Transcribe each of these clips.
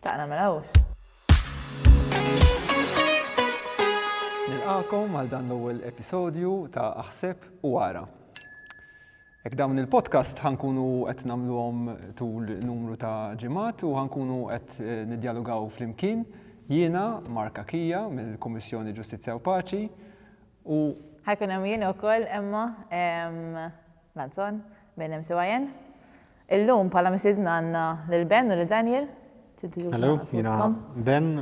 Taqna mela hus. Nilqakom għal dan l-ewwel episodju ta' Aħseb u Ara. Ek dawn il-podcast ħankunu qed nagħmluhom tul numru ta' ġimgħat u ħankunu qed eh, nidjalogaw flimkien jiena Mark Akija mill-Kummissjoni Ġustizzja u Paċi u ħajkun hemm jien ukoll Emma Lanzon minn MCYN Illum bħala mistiedna għandna lil Ben u lil Daniel. Hello, jiena Ben,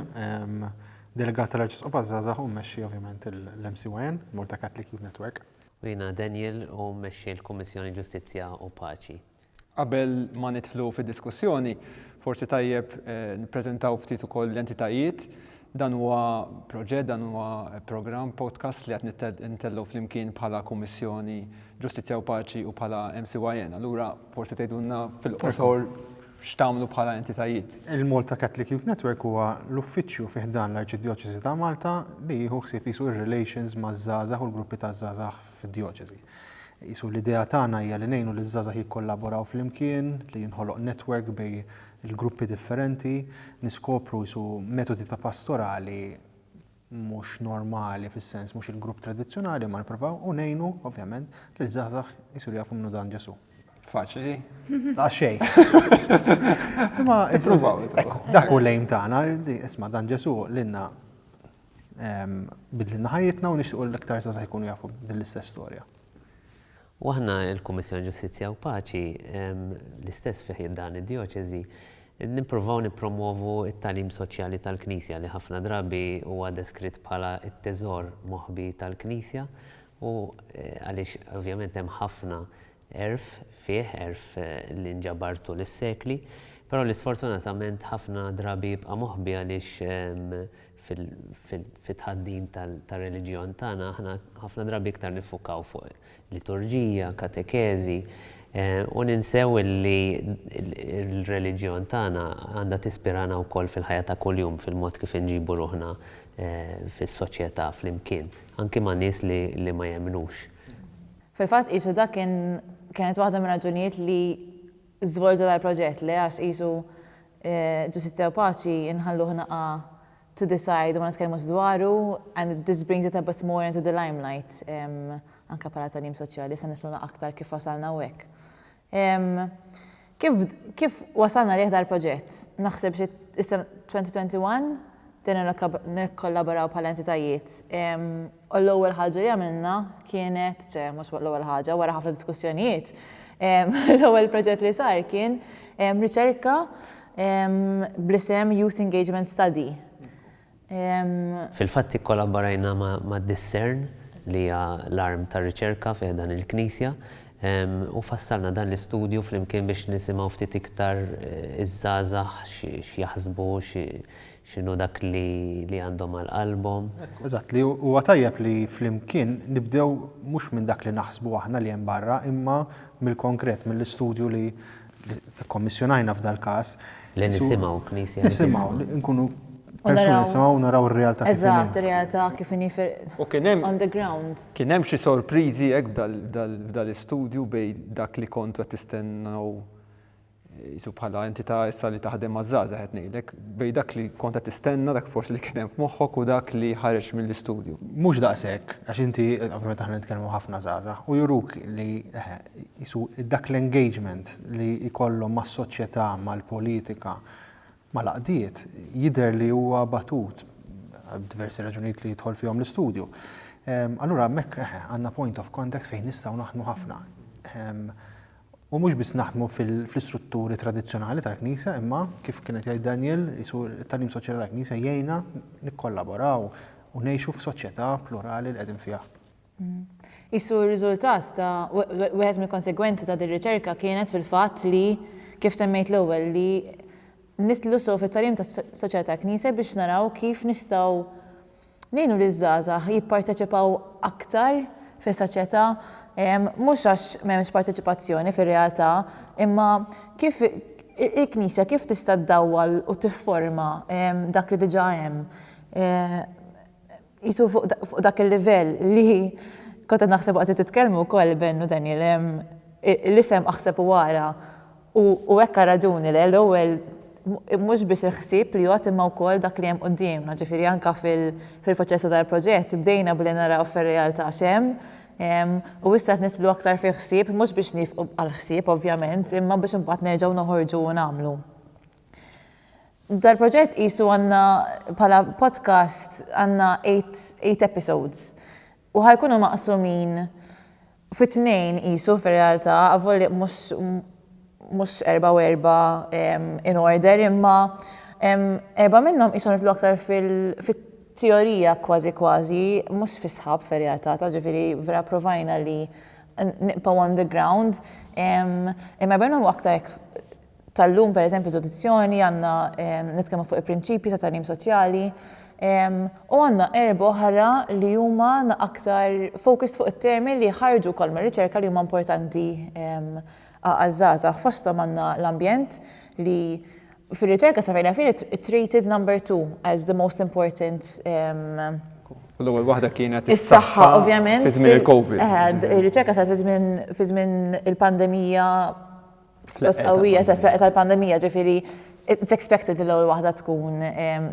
delegat tal-Arċisqof għaż-Żgħażagħ u mmexxi ovvjament il-MCYN, Malta Catholic Youth Network. U jiena Daniel u mmexxi l-Kummissjoni Ġustizzja u Paċi. Qabel ma nidħlu fid-diskussjoni, forsi tajjeb nippreżentaw ftit ukoll l-entitajiet Dan huwa proġett, dan huwa programm, podcast li qed nitellgħu flimkien bħala Kummissjoni Ġustizzja u Paċi u bħala MCYN. Allura forsi tgħidulna fil-qosor x'tagħmlu bħala entitajiet. Il-Malta Catholic Youth Network huwa l-uffiċċju fi ħdan l-Arċidjoċesi ta' Malta li jieħu ħsieb qisu r-relations maż-żgħażagħ u l-gruppi taż-żgħażagħ fid-djoċesi. Qisu l-idea tagħna hija li ngħinu liż-żgħażagħ jikkollaboraw flimkien, li jinħoloq network bejn il-gruppi differenti, niskopru qisu metodi ta' pastorali mhux normali fis-sens mhux il-grupp tradizzjonali ma nippruvaw u ngħinu ovvjament lil żgħażagħ jsiru jafu minnu dan Ġesu. Faċli. Għax xejn. Ma ippruvaw. Dak u lejn tagħna, isma' dan Ġesu lilna Bidlilna ħajjitna u nixtiequ li aktar żgħażagħ ikunu jafu din l-istess storja. U aħna l-Kummissjoni Ġustizzja u Paċi l-istess fih dan id-djoċeżi nippruvaw nippromwovu t-tagħlim soċjali tal-Knisja li ħafna drabi huwa deskritt bħala t-teżor moħbi tal-Knisja u għaliex ovvjament hemm ħafna Għerf fih, għerf li nġabar tul is-sekli, però li sfortunatament ħafna drabi jibqa' moħbi għaliex fit-tħaddin tar-reliġjon tagħna aħna ħafna drabi iktar niffukaw fuq liturġija, katekeżi, u ninsew li l-reliġjon tagħna għandha tispirana wkoll fil-ħajja ta' kuljum, fil-mod kif inġibu ruħna fis-soċjetà flimkien, anki ma' nies li ma jemmnux. Fil-fatt qisu dak kien kienet waħda mir-raġunijiet li żvolġa dal-proġett, le għax qisu Ġustizzja u Paċi nħalluh naqa' to the side u ma nitkellmux dwaru and this brings it a bit more into the limelight anke bħala tagħlim soċjali, issa nifhmu aktar kif wasalna hawnhekk. Ehm, kif, kif wasalna għalih dal-proġett? Naħseb xi issa 2021 bdejna nikkollaboraw bħala entitajiet. Ehm, u l-ewwel ħaġa li għamilna kienet, ċe, mhux l-ewwel ħaġa, wara ħafna diskussjonijiet, ehm, l-ewwel proġett li sar kien ehm, riċerka ehm, bl-isem Youth Engagement Study. Fil-fatt ikkolabborajna ma' Discern li hija l-arm tar-riċerka fi ħdan il-Knisja u fassalna dan l-istudju flimkien biex nisimgħu ftit iktar iż-żgħażagħ x'jaħsbu, x'inhu dak li għandhom għal qalbhom. Eżatt, li huwa tajjeb li flimkien nibdew mhux minn dak li naħsbu aħna li hemm barra imma mill-konkret, mill-istudju li Kkommissjonajna f'dal-każ. Li nisimgħu Knisja. Nisimgħu, nkunu persuni nisimgħu u naraw ir-realtà kif inhi. Eżatt, ir-realtà kif inhi on the ground. Kien hemm xi sorpriżi hekk f'dal-istudju bejn dak li kontu qed tistennew qisu bħala entità issa li taħdem maż-żgħażagħ qed ngħidlek, bejn dak li kont qed tistenna dak forsi li kien hemm f'moħħok u dak li ħareġ mill-istudju. Mhux daqshekk, għax inti, ovvjament aħna nitkellmu ħafna żgħażagħ u juruk li qisu dak l-engagement li jkollhom mas-soċjetà, mal-politika, mal-għaqdiet, jidher li huwa batut għal diversi raġunijiet li jidħol fihom l-istudju. Ehm, allura hemmhekk eh, għandna point of contact fejn nistgħu naħdmu ħafna. Ehm, u mhux biss naħdmu fl-istrutturi tradizzjonali tal-Knisja, imma kif kienet jgħid Daniel, isu t-talim soċjetà tal-Knisja jgħinna nikkollaboraw u ngħixu f'soċjetà plurali li qegħdin fiha. Qisu r-riżultat ta' wieħed mill-konsegwenzi ta' din riċerka kienet fil-fatt li, kif semmejt l-ewwel, li nidħlu sew fit-tagħlim tas-soċjetà tal-Knisja biex naraw kif nistgħu ngħinu liż-żgħażagħ jipparteċipaw aktar fis-soċjetà, mhux għax m'hemmx parteċipazzjoni fir-realtà, imma kif il-Knisja kif tista' ddawwal u tifforma dak li diġà hemm. Qisu fuq dak il-livell li kont qed naħseb waqt li titkellmu wkoll Ben u Daniel, l-isem aħseb u ara u hekk għal raġuni le, l-ewwel mhux biss il-ħsieb li jgħodd imma wkoll dak li hemm quddiemna, ġifieri anke fil-proċess ta' dal-proġett bdejna billi naraw fir-realtà x'hemm u issa qed nidħlu aktar fil-ħsieb mhux biex niefqu għall-ħsieb ovvjament imma biex imbagħad nerġgħu noħorġu u nagħmlu. Dal-proġett qisu għandna bħala podcast għandna eight, eight episodes u ħa jkunu maqsumin fi tnejn qisu fir-realtà, avolja mhux mhux erba' u erba' in order imma erba' minnhom qishom nidħlu aktar fit teorija kważi kważi mhux fis-sħab fir-realtà ta' ġifieri vera provajna li nibqgħu on the ground imma erba' minnhom aktar hekk tal-lum, pereżempju edudizzjoni, għandna nitkellmu fuq il-prinċipji ta' tagħlim soċjali, u għandna erbgħa oħra li huma aktar focused fuq it-temi li jħarġu wkoll mir-riċerka li huma importanti għaż-żgħażagħ. Fosthom għandna l-ambjent li fir-riċerka sa fejn naf jien it's rated number two as the most important L-ewwel waħda kienet is-saħħa ovvjament fi żmien il-COVID. Ir-riċerka saret fi żmien il-pandemija Pjuttost qawwija s-effeqqa tal-pandemija, ġifieri it's expected li l-ewwel waħda tkun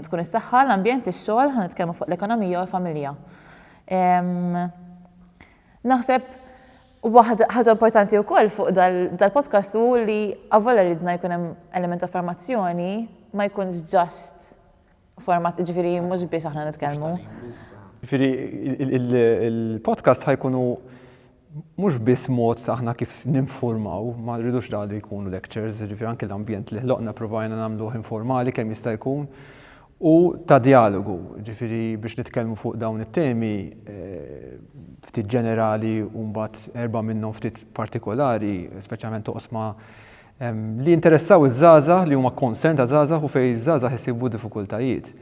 tkun is-saħħa, l-ambjent, ix-xogħol, ħa nitkellmu fuq l-ekonomija u l-familja. Naħseb waħda ħaġa importanti wkoll fuq dal-podcast hu li avolja ridna jkun hemm element ta' formazzjoni ma jkunx just Format, ġifiri, mux bis aħna nitkellmu. Ġifiri, il-podcast ħajkunu mux bis mod aħna kif ninformaw, ma rridux da li jkunu lectures, ġifiri anki l-ambjent li ħloqna provajna namluħ informali kemm jista' jkun u ta' dialogu, ġifiri biex nitkellmu fuq dawn it-temi eh, ftit ġenerali u mbagħad erba' minnhom ftit partikolari, speċjalment oqsma li jinteressaw iż-żgħażagħ, li huma concern ta' żgħażagħ u fejn iż-żgħażagħ isibu diffikultajiet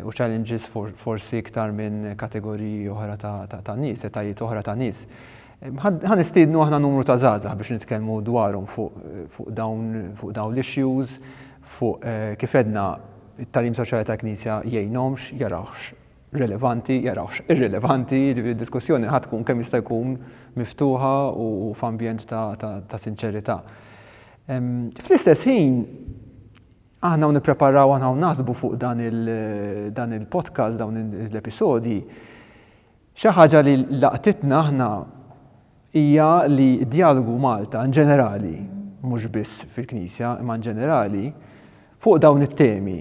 u challenges forsi iktar minn kategoriji oħra ta' nies, etajiet oħra ta' nies. Ħa nistiednu aħna numru ta' żgħażagħ biex nitkellmu dwarhom fuq dawn fuq dawn l-issues, fuq kif għedna t-tagħlim soċjali tal-Knisja jgħinhomx, jarawhx rilevanti jarawhx irrilevanti, jiġifieri d-diskussjoni ħa tkun kemm jista' jkun miftuħa u f'ambjent ta' sinċerità. Fl-istess ħin, aħna hawn nippreparaw aħna hawn naħsbu fuq dan il-podcast, dawn l-episodji, xi ħaġa li laqtitna aħna hija li d-djalogu Malta in ġenerali, mhux biss fil-Knisja, imma in ġenerali, fuq dawn it-temi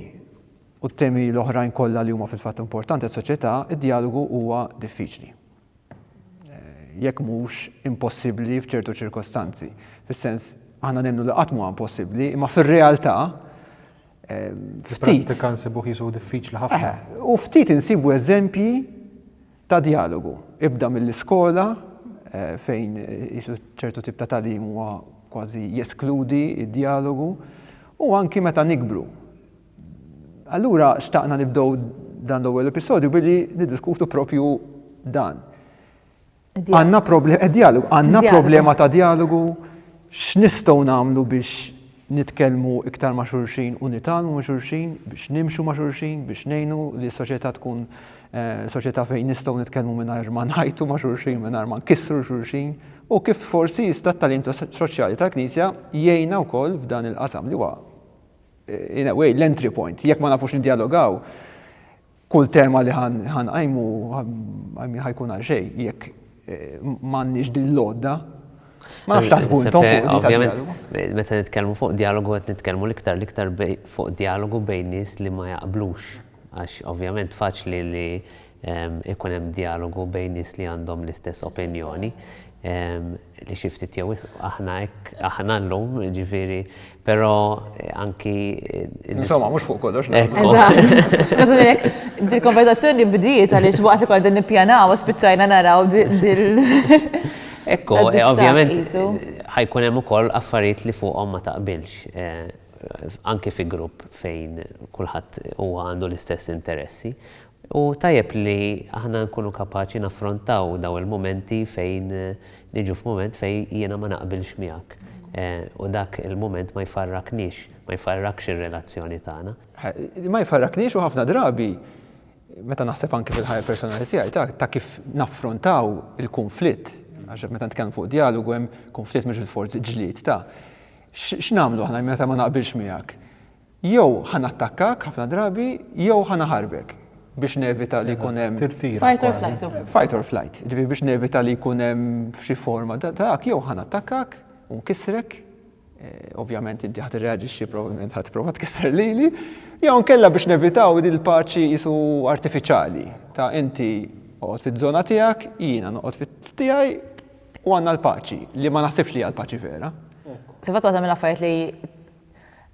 u t-temi l-oħrajn kollha li huma fil-fatt importanti għas-soċjetà, id-djalogu huwa diffiċli, jekk mhux impossibbli f'ċertu ċirkostanzi. Fis-sens, aħna nemmnu li qatt m'huwa impossibbli, imma fir-realtà ftit. Fil-prattika nsibuh jisuh diffiċli ħafna. U ftit insibu eżempji ta' djalogu. Ibda mill-iskola fejn ċertu tip ta' tagħlim huwa kważi jeskludi d-djalogu u anki meta nikbru. Allura xtaqna nibdew dan l-ewwel episodju billi niddiskutu propju dan. Għandna problema eh, dialogu, għandna problema ta' dialogu x'nistgħu nagħmlu biex nitkellmu iktar ma' xulxin u nitalmu ma' xulxin, biex nimxu ma' xulxin, biex ngħinu li s-soċjetà tkun eh, soċjetà fejn nistgħu nitkellmu mingħajr ma ngħajtu ma' xulxin, mingħajr ma nkissru xulxin, u kif forsi jista' t-talim soċjali tal-Knisja jgħinna wkoll f'dan il-qasam li huwa in a way, l-entry point. Jekk ma nafux nidjalogaw, kull tema li ħanqajmu ħajkun għal xejn jekk eh, m'għandniex din l-għodda Ma nafx taħsbu intom fuq. Eh, ovvjament, meta nitkellmu fuq dialogu qed nitkellmu l-iktar l-iktar fuq dialogu bejn nies li ma jaqblux. Għax ovvjament faċli li ikun hemm djalogu bejn nies li għandhom l-istess opinjoni li xi ftit jew wisq aħna hekk aħna llum, ġifieri, però anki Insomma, mhux fuq kollox. Eżatt. Dil-konverzazzjoni bdiet għaliex waqt li kont nippjanaw spiċċajna naraw dil. Ekku, ovvjament ħajkun hemm ukoll affarijiet li fuqhom ma taqbilx anki fi grupp fejn kulħadd huwa għandu l-istess interessi Hu tajjeb li aħna nkunu kapaċi naffrontaw dawn il-mumenti fejn niġu f'mument fejn jiena ma naqbilx miegħek u dak il-mument ma jfarraknix, ma jfarrakx ir-relazzjoni tagħna. Ma jfarraknix u ħafna drabi, meta naħseb anki fil-ħajja personali tiegħi ta' ta' kif naffrontaw il-kunflitt, għax meta nitkellmu fuq djalogu hemm kunflitt mhux bilfors ġlied ta', x'nagħmlu aħna meta ma naqbilx miegħek? Jew ħa nattakkak ħafna drabi jew ħa naħarbek biex nevita li jkun hemm. Fight or flight. Fight or flight. Ġifieri biex nevita li jkun hemm f'xi forma dak jew ħa nattakkak u nkissrek Eh, ovvjament inti ħat reagġixxi probabbilment ħat prova tkisser lili, jew nkella biex nevitaw din il-paċi jisu artifiċjali ta' inti oqgħod fiż-żona tiegħek, jiena noqgħod fit-tiegħi u għandna l-paċi li ma naħsibx li għal paċi vera. Fil-fatt waħda mill-affarijiet li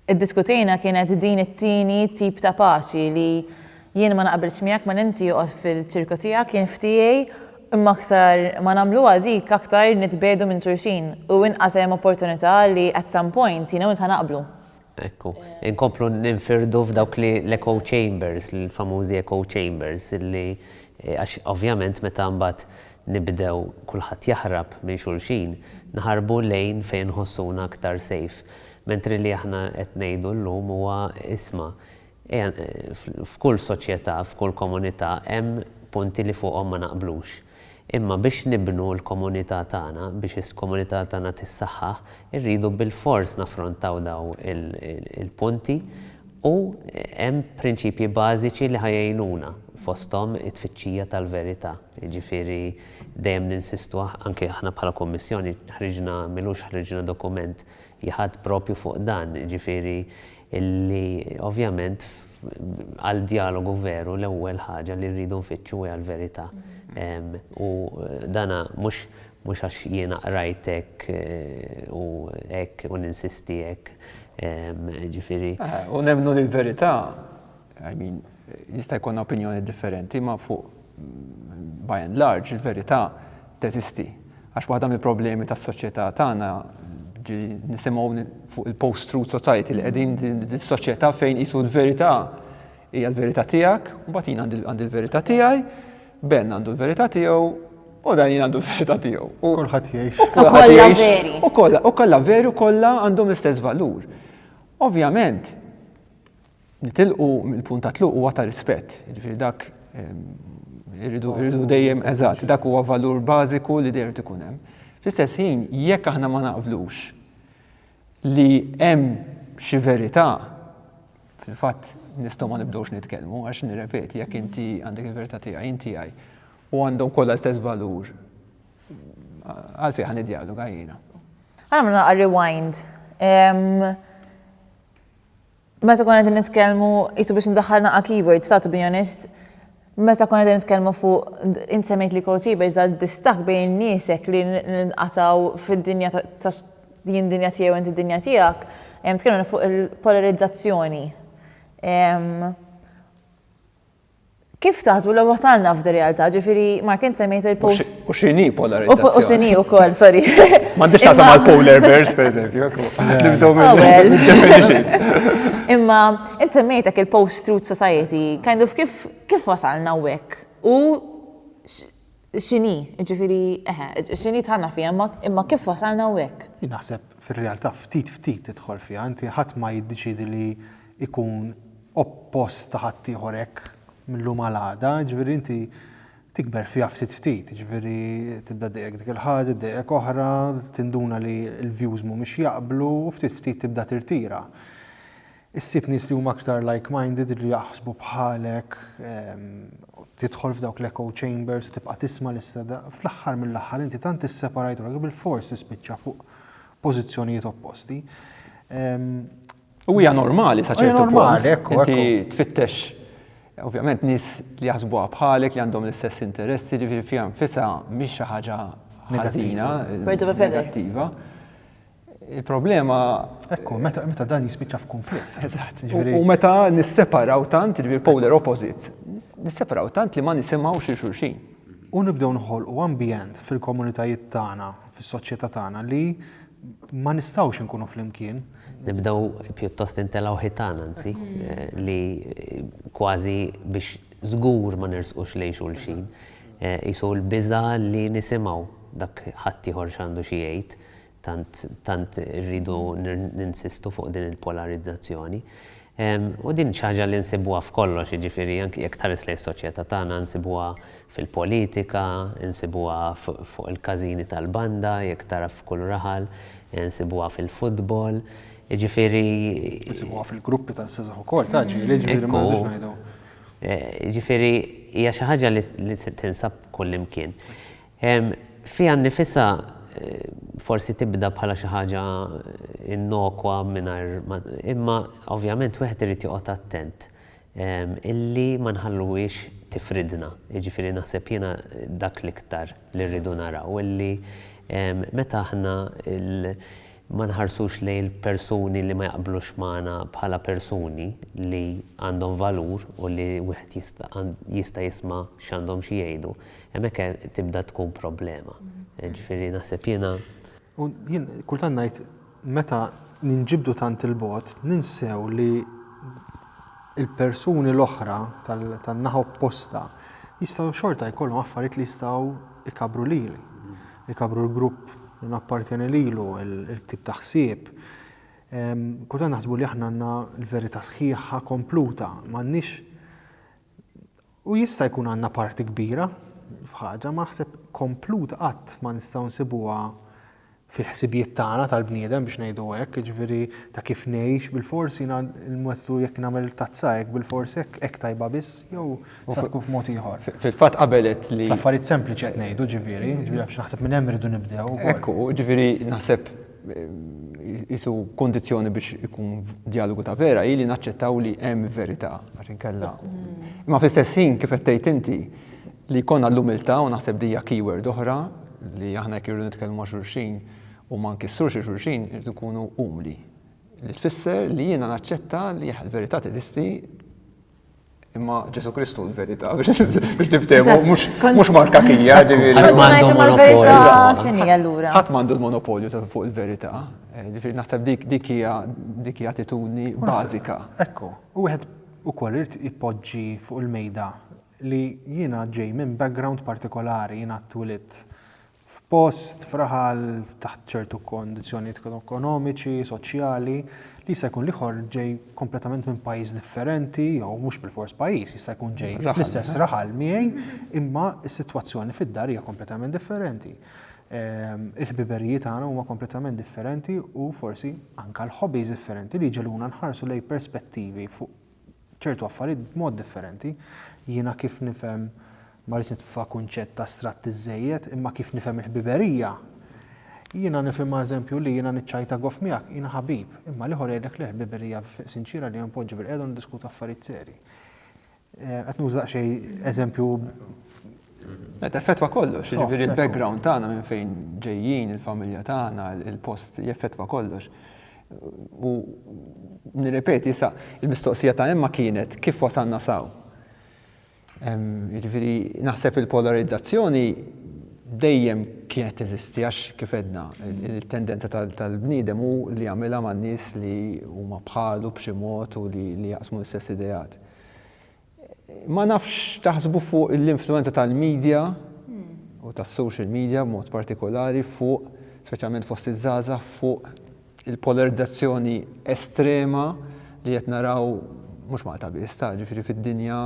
Iddiskutejna kienet din it-tieni tip ta' paċi li jien ma naqbilx miegħek mela inti oqgħod fil-ċirku tiegħek jien f'tiegħi imma aktar ma nagħmluha dik aktar nitbiegħdu minn xulxin u inqas hemm opportunità li at some point jiena u int ħa naqblu. Ekku. Inkomplu ninfirdu f'dawk l-echo chambers, l-famużi echo chambers illi għax ovvjament meta mbagħad nibdew kulħadd jaħrab minn xulxin, naħarbu lejn fejn nħossuna aktar safe. Mentri li aħna qed ngħidu llum huwa isma', ejja f'kull soċjetà, f'kull komunità hemm punti li fuqhom ma naqblux. Imma biex nibnu l-komunità tagħna, biex is-komunità tagħna tissaħħaħ, irridu bilfors naffrontaw dawn il-punti u hemm prinċipji bażiċi li ħa jgħinuna, fosthom it-tfittxija tal-verità. Jiġifieri dejjem ninsistu anke aħna bħala Kummissjoni ħriġna m'ilux ħriġna dokument jgħadd proprju fuq dan, jiġifieri li ovvjament għal djalogu veru l-ewwel ħaġa li rridu nfittxu hija l-verità. U dan mhux mhux għax jiena qrajt hekk u hekk u ninsisti hekk, jiġifieri. U nemmnu li l-verità I mean, jista' jkollna opinjoni differenti, imma fuq by and large il-verità teżisti. Għax waħda mill-problemi tas-soċjetà tagħna ġi nisimgħu fuq il-post-truth society li qegħdin dis-soċjetà fejn qisu l-verità hija l-verità tiegħek, u mbagħad jien għandi l-verità tiegħi, Ben għandu l-verità tiegħu u dan jien għandu l-verità tiegħu. U kulħadd jgħix. U kollha veri. U kollha, u kollha veri u kollha għandhom l-istess valur. Ovvjament, Nitilqu mill-punt ta' tluq huwa ta' rispett, jiġifieri dak irridu dejjem eżatt, dak huwa valur bażiku li dejjem irid ikun hemm. Fl-istess ħin, jekk aħna ma naqblux li hemm xi verità, fil-fatt nistgħu ma nibdewx nitkellmu għax nirrepeti jekk inti għandek il-verità tiegħi, jien tiegħi, u għandhom kollha l-istess valur, għalfejn ħa niddjaloga jiena? Għamilna rewind. Meta konna qegħdin nitkellmu, qisu biex ndaħħal naqa' keywords ta' to be honest, meta konna qegħdin nitkellmu fuq int semmejt li co-achievers dal-distakk bejn niesek li nqatgħu fid-dinja ta' jien dinja tiegħi u inti dinja tiegħek, tkellimna fuq il-polarizzazzjoni. Kif taħsbu li wasalna f'di realtà, ġifiri, Mark, int semmejt il-post. U xini polarizzazzjoni. U xini u koll, sorry. M'għandix taħseb għal polar bears, per eżempju. Imma, int semmejtek il-post-truth society, kind of kif wasalna u U X'inhi, jiġifieri, eħe, x'inhi dħalna fiha, imma kif wasalna hawnhekk? Jien naħseb fir-realtà ftit ftit tidħol fiha, inti ħadd ma jiddeċiedi li jkun oppost ta' ħaddieħor hekk mil-lum għal għada, jiġifieri inti tikber fiha ftit ftit, jiġifieri tibda ddejjqek dik il-ħaġa, ddejjqek oħra, tinduna li l-views mhumiex jaqblu u ftit ftit tibda tirtira. Issib nies li huma aktar like minded li jaħsbu bħalek, tidħol f'dawk l-echo chambers u tibqa' tisma' l-istess, fl-aħħar mill-aħħar inti tant isseparajt ruħek bilfors tispiċċa fuq pożizzjonijiet opposti. U hija normali sa ċertu punt. Inti tfittex ovvjament nies li jaħsbuha bħalek li għandhom l-istess interessi, ġifieri fiha nfisha mhix xi ħaġa ħażina, negattiva. Il-problema. Ekku, meta, meta dan jispiċċa f'kunflitt. Eżatt. U meta nisseparaw tant, ġifieri polar opposites, nisseparaw tant li ma nisimgħux xi xulxin. U nibdew nħolqu ambjent fil-komunitajiet tagħna, fis-soċjetà tagħna li ma nistgħux inkunu flimkien. Nibdew pjuttost intelgħu ħitan anzi, li kważi biex żgur ma nersqux lejn xulxin. Qisu l-biża' li nisimgħu dak ħaddieħor x'għandu xi jgħid. Tant, tant irridu ninsistu fuq din il-polarizzazzjoni. U din xi ħaġa li nsibuha f'kollox, jiġifieri anki jekk tħares lejn is-soċjetà tagħna nsibuha fil-politika, insibuha fuq il-każini tal-banda, jekk tara f'kull raħal, insibuha fil-futbol, jiġifieri. Insibuha fil-gruppi taż-żgħażagħ ukoll ta' ġieli, jiġifieri ma rridux ngħidu. Jiġifieri hija xi ħaġa li tinsab kullimkien. Fiha nnifisha forsi tibda bħala xi ħaġa innokwa mingħajr ma imma ovvjament wieħed irid joqgħod attent illi ma nħalluhiex tifridna. Jiġifieri naħseb jiena dak l-iktar li rridu naraw illi meta aħna ma nħarsux lejn il-persuni li ma jaqblux magħna bħala persuni li għandhom valur u li wieħed jista' jista' jisma' x'għandhom xi jgħidu. Hemmhekk tibda tkun problema. Ġifieri naħseb jiena. U jien kultant ngħid meta ninġibdu tant il-bogħod ninsew li l-persuni l-oħra tan-naħa opposta jistgħu xorta jkollhom affarijiet li jistgħu ikabru lili, ikabru l-grupp li nappartjeni lilu, il-tip ta' ħsieb. Kultant naħsbu li aħna għandna l-verità sħiħa kompluta, m'għandniex U jista' jkun għandna parti kbira f'ħaġa ma naħseb kompluta qatt ma nistgħu nsibuha fil-ħsibijiet tagħna tal-bniedem biex ngħidu hekk, jiġifieri ta' kif ngħix bilfors jiena l-metodu jekk nagħmel tazza hekk bilfors hekk hekk tajba biss jew se tkun f'mod ieħor. Fil-fatt qabel għedt li. Fl-affarijiet sempliċi qed ngħidu ġifieri, ġifieri għax naħseb minn hemm irridu nibdew. Hekk hu, ġifieri naħseb. jisu kondizjoni biex ikun dialogu ta' vera, hi li naċċettaw li hemm verità, għax inkella. Ma fl-istess ħin kif qed tgħid inti li jkollna l-umiltà u naħseb dija keyword oħra li aħna jekk irridu nitkellmu ma' xulxin u ma nkissrux xulxin irridu nkunu umli. Li tfisser li jiena naċċetta li l-verità teżisti Imma Ġesu Kristu l-verità biex niftehmu mhux marka kija ġifieri. Ħadd m'għandu l-monopolju. Ħadd m'għandu l-monopolju fuq il-verità. Eh, ġifieri naħseb dik dik hija dik hija attitudni bażika. Ekku, u wieħed ukoll irid ipoġġi fuq il-mejda li jiena ġej minn background partikolari jiena twilit f'post, f'raħal, taħt ċertu kondizzjonijiet ekonomiċi, soċjali, li jista' jkun l-ieħor ġej kompletament minn pajjiż differenti, jew mhux bil-fors pajjiż, jista' jkun ġej fl-istess eh? raħal miegħi, imma s-sitwazzjoni fid-dar hija kompletament differenti. Ehm, il-ħbiberijiet għana huma kompletament differenti u forsi anka l-hobbies differenti li ġeluna nħarsu lej perspettivi fuq ċertu affarijiet b'mod differenti. Jiena kif nifhem, ma rridx nitfa' kunċett astratt iżżejjed, imma kif nifhem il-ħbiberija, jiena nifhimha eżempju li jiena niċċajta goff miegħek, jiena ħabib, imma l-ieħor jgħidlek le ħbiberija sinċiera li npoġġu bil-qiegħda u niddiskutu affarijiet serji. Qed nuża daqsxejn eżempju Qed effettwa kollox, jiġifieri l-background tagħna minn fejn ġejjin, il-familja tagħna, il-post jeffettwa kollox. U nirrepeti sa il-mistoqsija ta' Emma kienet kif wasalna saw. Jiġifieri naħseb il-polarizzazzjoni dejjem kienet teżisti għax kif għedna il-tendenza tal-bniedem hu li jagħmilha man-nies li huma bħalu b'xi mod u li jaqsmu l-istess ideat. Ma nafx x'taħsbu fuq l-influwenza tal-media u tas-social media b'mod partikolari fuq, speċjalment fost iż-żgħażagħ, fuq il-polarizzazzjoni estrema li qed naraw mhux Malta biss, ta' ġifieri fid-dinja,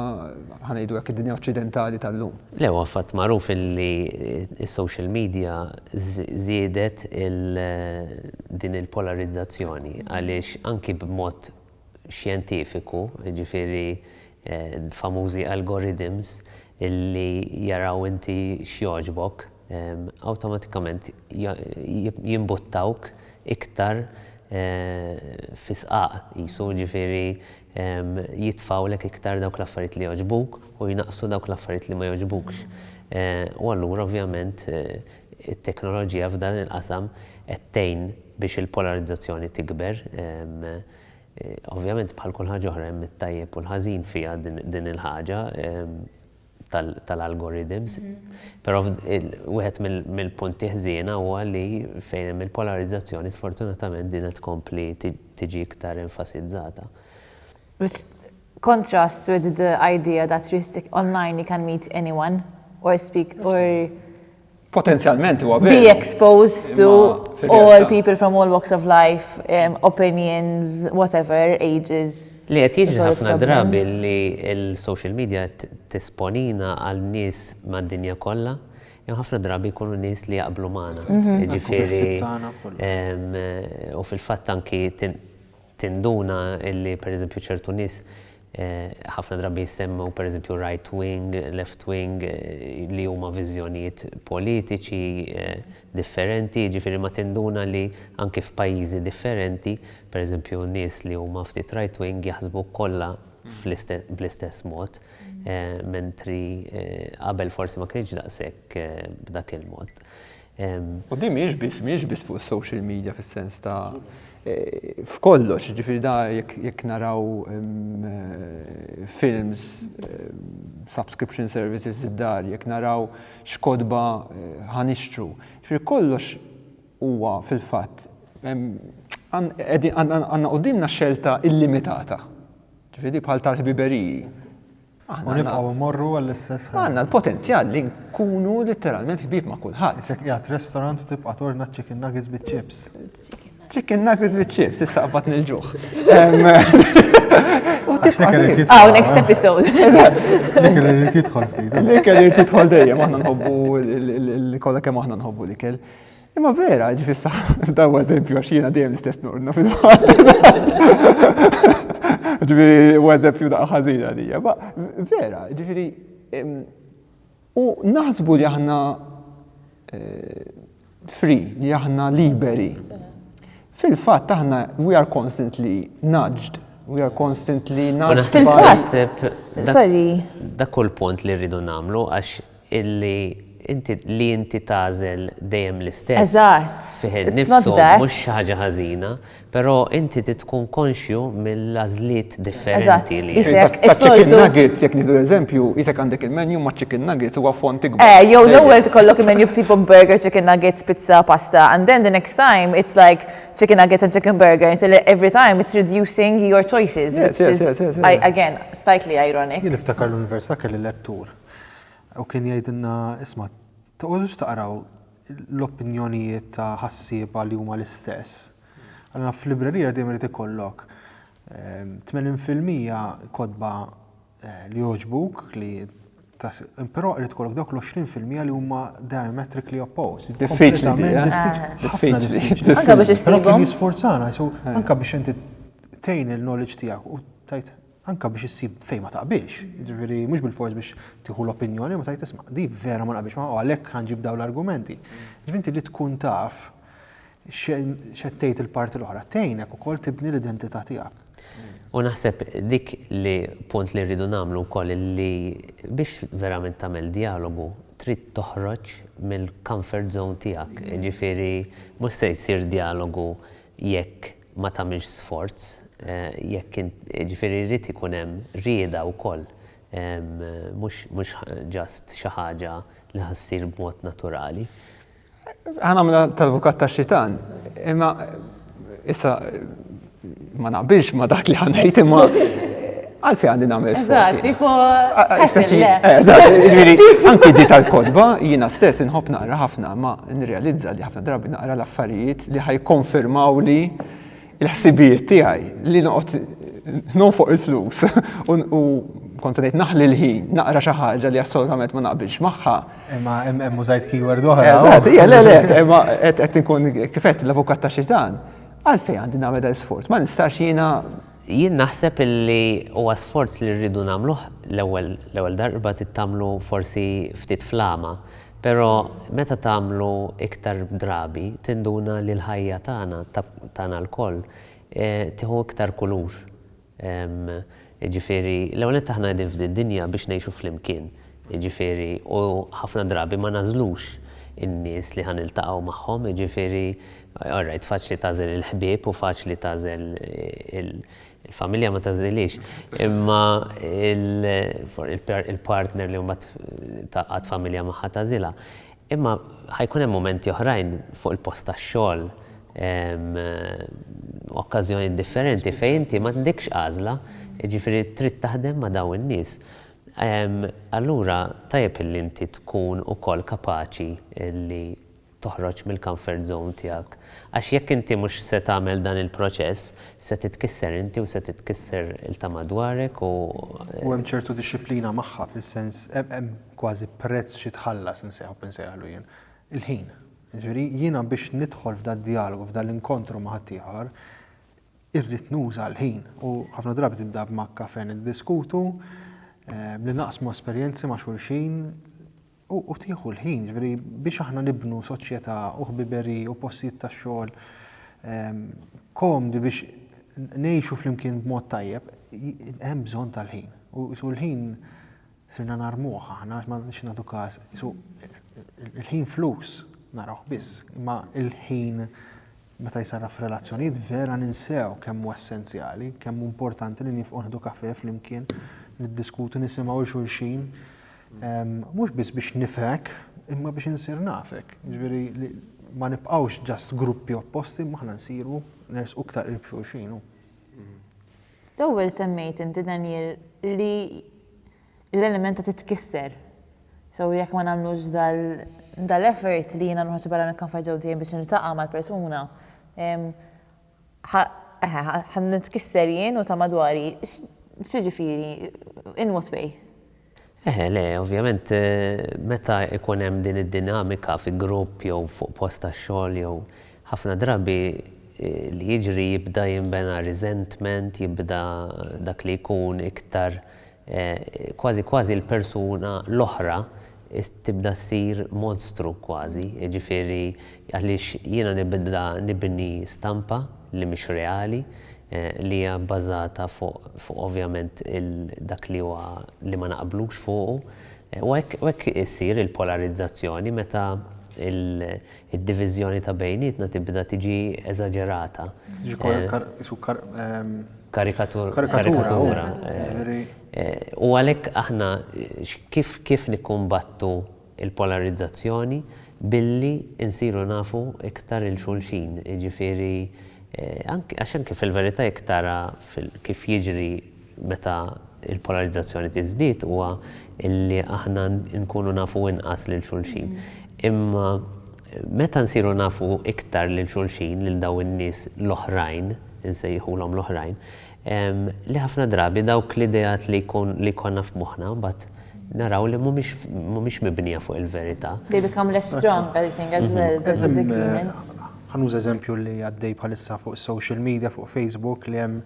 ħa ngħidu hekk, id-dinja oċċidentali tal-lum. Le, huwa fatt magħruf li s-social media żiedet din il-polarizzazzjoni għaliex anki b'mod xjentifiku, jiġifieri l-famużi algorithms li jaraw inti x'jogħġbok, awtomatikament jimbuttawk iktar fi sqaq qisu, jiġifieri jitfgħulek iktar dawk l-affarijiet li jogħġbuk u jnaqqsu dawk l-affarijiet li ma jogħġbukx. U allura ovvjament It-teknoloġija f'dan il-qasam qed tgħin biex il-polarizzazzjoni tikber. Ovvjament bħal kull ħaġa oħra hemm it-tajjeb u l-ħażin fiha din il-ħaġa tal-algorithms. Però wieħed mill-punti ħżiena huwa li fejn hemm il-polarizzazzjoni sfortunatament din qed tkompli tiġi iktar enfasizzata. Which contrasts with the idea that you stick online you can meet anyone or speak or potenzjalment huwa veru. Be exposed to all people from all walks of life, um, opinions, whatever, ages. Li qed jiġri ħafna drabi li l-social media tisponina għal nies mad-dinja kollha, jew ħafna drabi jkunu nies li jaqblu magħna. Mhm. Ġifieri u fil-fatt anki Tinduna li pereżempju ċertu nies ħafna drabi jissemmew pereżempju right wing, left wing li huma viżjonijiet politiċi differenti, jiġifieri ma tinduna li anki f'pajjiżi differenti pereżempju nies li huma ftit right wing jaħsbu kollha bl-istess mod mentri qabel forsi ma kienx daqshekk b'dak il-mod. U din mhijiex biss, mhijiex biss fuq is-social media fis-sens ta' f'kollox, jiġifieri da jekk naraw films, subscription services id-dar, jekk naraw x'kotba ħa nixtru. Jiġifieri kollox huwa fil-fatt għandna quddiemna xelta illimitata, jiġifieri bħal tal-ħbiberiji. U nibqgħu immorru għall-istess ħaġa. Għandna l-potenzjal li nkunu letteralment ħbieb ma' kulħadd. Isek qiegħed restaurant tibqa' torna chicken nuggets biċ-chips. Chicken nuggets biċ-chips, issa qabat nil-ġuħ. U tibqa' Ah, next episode. L-ikel irid jidħol ftit. L-ikel irid jidħol dejjem, aħna nħobbu l-ikel kemm aħna nħobbu l-ikel. Imma vera, ġifissa, daw eżempju għax jiena dejjem l-istess nordna fil-fatt. Ġifiri, u eżempju da' ħażina li ma vera, ġifiri, u naħsbu li aħna eh, free, li aħna liberi. Fil-fatt aħna we are constantly nudged, we are constantly nudged. Fil-fatt, sorry. Dak kull punt li rridu namlu għax illi inti li inti tagħżel dejjem l-istess fih innifsu mhux xi ħaġa ħażina, però inti trid tkun konxju mill-għażliet differenti li. Taċ-chicken nuggets, jekk nieħdu eżempju, qisek għandek il-menu maċ-chicken nuggets huwa fond ikbar. Eh, jew l-ewwel tkollok il-menu b'tipu burger, chicken nuggets, pizza, pasta, and then the next time it's like chicken nuggets and chicken burger, instead every time it's reducing your choices, which is again slightly ironic. Jien niftakar l-università kelli lettur. U kien jgħidilna, isma', toqgħodux taqraw l-opinjonijiet ta' ħassieba li huma l-istess. Allura f'librerija dejjem irid ikollok 80 fil-mija kotba eh, li jogħġbuk li Però irid ikollok dawk l-20 fil-mija li huma diametrically opposed. Diffiċli. Diffiċli. Eh? Anka biex issibhom. Jisforzana, eh. anka biex inti tejn il-knowledge tiegħek u tajt anke biex issib fejn ma taqbilx, jiġifieri mhux bilfors biex tieħu l-opinjoni ma tgħid isma' di vera ma naqbilx magħha u għalhekk ħa nġib dawn l-argumenti. Jiġifieri inti li tkun taf x'qed tgħid il-parti l-oħra tgħinek ukoll tibni l-identità tiegħek. U naħseb dik li punt li rridu nagħmlu wkoll li biex verament tagħmel djalogu trid toħroġ mill-comfort zone tiegħek, jiġifieri mhux se jsir djalogu jekk ma tagħmilx sforz, jekk int, jiġifieri jrid ikun hemm rieda wkoll, mhux mhux just xi ħaġa li ħa ssir b'mod naturali. Ħa nagħmilha tal-avukat tax-xitan, imma issa ma naqbilx ma dak li ħa ngħid imma Għalfej għandi nagħmel sport. Eżatt, tipo ħasil le. Eżatt, anki di tal-kodba jiena stess inħobb naqra ħafna ma nirrealizza li ħafna drabi naqra l-affarijiet li ħajkonfermaw li l-ħsibijiet tiegħi li noqgħod non fuq il-flus u kont ngħid naħli l-ħin naqra xi ħaġa li assolutament ma naqbilx magħha. Imma hemm użajt keyword oħra. Eżatt, hija le le, imma qed inkun kifet l-avukat ta' xitan. Għalfejn għandi nagħmel dan sforz, ma nistax jiena Jien naħseb illi huwa sforz li rridu nagħmluh l-ewwel l-ewwel darba trid tagħmlu forsi ftit fl-għama, però meta tagħmlu iktar drabi tinduna li l-ħajja tagħna ta' tagħna lkoll tieħu iktar kulur. Jiġifieri l-ewwel nett aħna qegħdin f'din dinja biex ngħixu flimkien, jiġifieri u ħafna drabi ma nagħżlux in-nies li ħa niltaqgħu magħhom, jiġifieri Alright, faċli tagħżel il-ħbieb u faċli tagħżel il-familja ma tagħżilhiex. Imma il-partner li mbagħad tgħaqqad familja magħha tagħżilha. Imma ħajkun hemm mumenti oħrajn fuq il-post tax-xogħol, okkażjonijiet differenti fejn inti m'għandekx għażla, jiġifieri trid taħdem ma' dawn in-nies. Allura tajjeb li inti tkun ukoll kapaċi li toħroġ mill-comfort zone tiegħek. Għax jekk inti mhux se tagħmel dan il-proċess, se titkisser inti u se titkisser il-tama dwarek u. U hemm ċertu dixxiplina magħha fis-sens hemm kważi prezz xi tħallas inseħħu insejħlu jien. Il-ħin. Jiġifieri jiena biex nidħol f'dad-djalogu f'dal-inkontru ma' ħaddieħor irrid nuża l-ħin u ħafna drabi tibda b'makkafe niddiskutu, b'li naqsmu esperjenzi ma' xulxin, U tieħu l-ħin, ġifieri biex aħna nibnu soċjetà u ħbiberi u postijiet tax-xogħol ehm, komdi biex ngħixu flimkien b'mod tajjeb, hemm bżonn tal-ħin. U l-ħin sirna narmuħ aħna ma nix nagħtu każ. Il-ħin flus naraw biss, imma il-ħin Meta jsarraf f'relazzjonijiet vera ninsew kemm hu essenzjali, kemm hu importanti li niefqu nieħdu kafè flimkien, niddiskutu, nisimgħu 'l xulxin. Mhux biss biex nifhek, imma biex insir nafek. Jiġifieri li ma nibqgħux ġast gruppi opposti, imma aħna nsiru nersqu iktar qrib xulxin. L-ewwel semmejt inti Daniel li l-element ta' titkisser. So jekk ma nagħmlux dal-effort li jiena noħroġ barra mill-comfort zone tiegħi biex niltaqa' mal-persuna, ħa nitkisser jien u ta' madwari. X'jiġifieri, in what way? Eħe, le, ovvjament meta jkun hemm din id-dinamika fi grupp jew fuq post tax-xogħol jew ħafna drabi li jiġri jibda jinbena resentment, jibda dak li jkun iktar, kważi kważi l-persuna l-oħra tibda ssir monstru kważi, jiġifieri għaliex jiena nibda nibni stampa li mhix reali, li hija bbażata fuq ovvjament dak li huwa li ma naqblux fuqu. U hekk issir il-polarizzazzjoni meta Id-diviżjoni ta' bejnietna tibda tiġi eżaġerata. Tiġi kar, isu kar, ehm, Karikatur, karikatura. U għalhekk aħna kif kif nikkumbattu il-polarizzazzjoni billi insiru nafu iktar il xulxin, jiġifieri għax anke fil-verità jekk tara kif jiġri meta l-polarizzazzjoni tiżdied huwa li aħna nkunu nafu inqas lil xulxin. Imma meta nsiru nafu iktar lil xulxin, lil dawn in-nies l-oħrajn, insejħulhom l-oħrajn, li ħafna drabi dawk l-ideat li jkollna f'moħħna mbagħad naraw li mhumiex mibnija fuq il-verità. They become less strong, I think, as well, the disagreements. Ħa nuża eżempju li għaddej bħalissa fuq is-social media, fuq Facebook, li hemm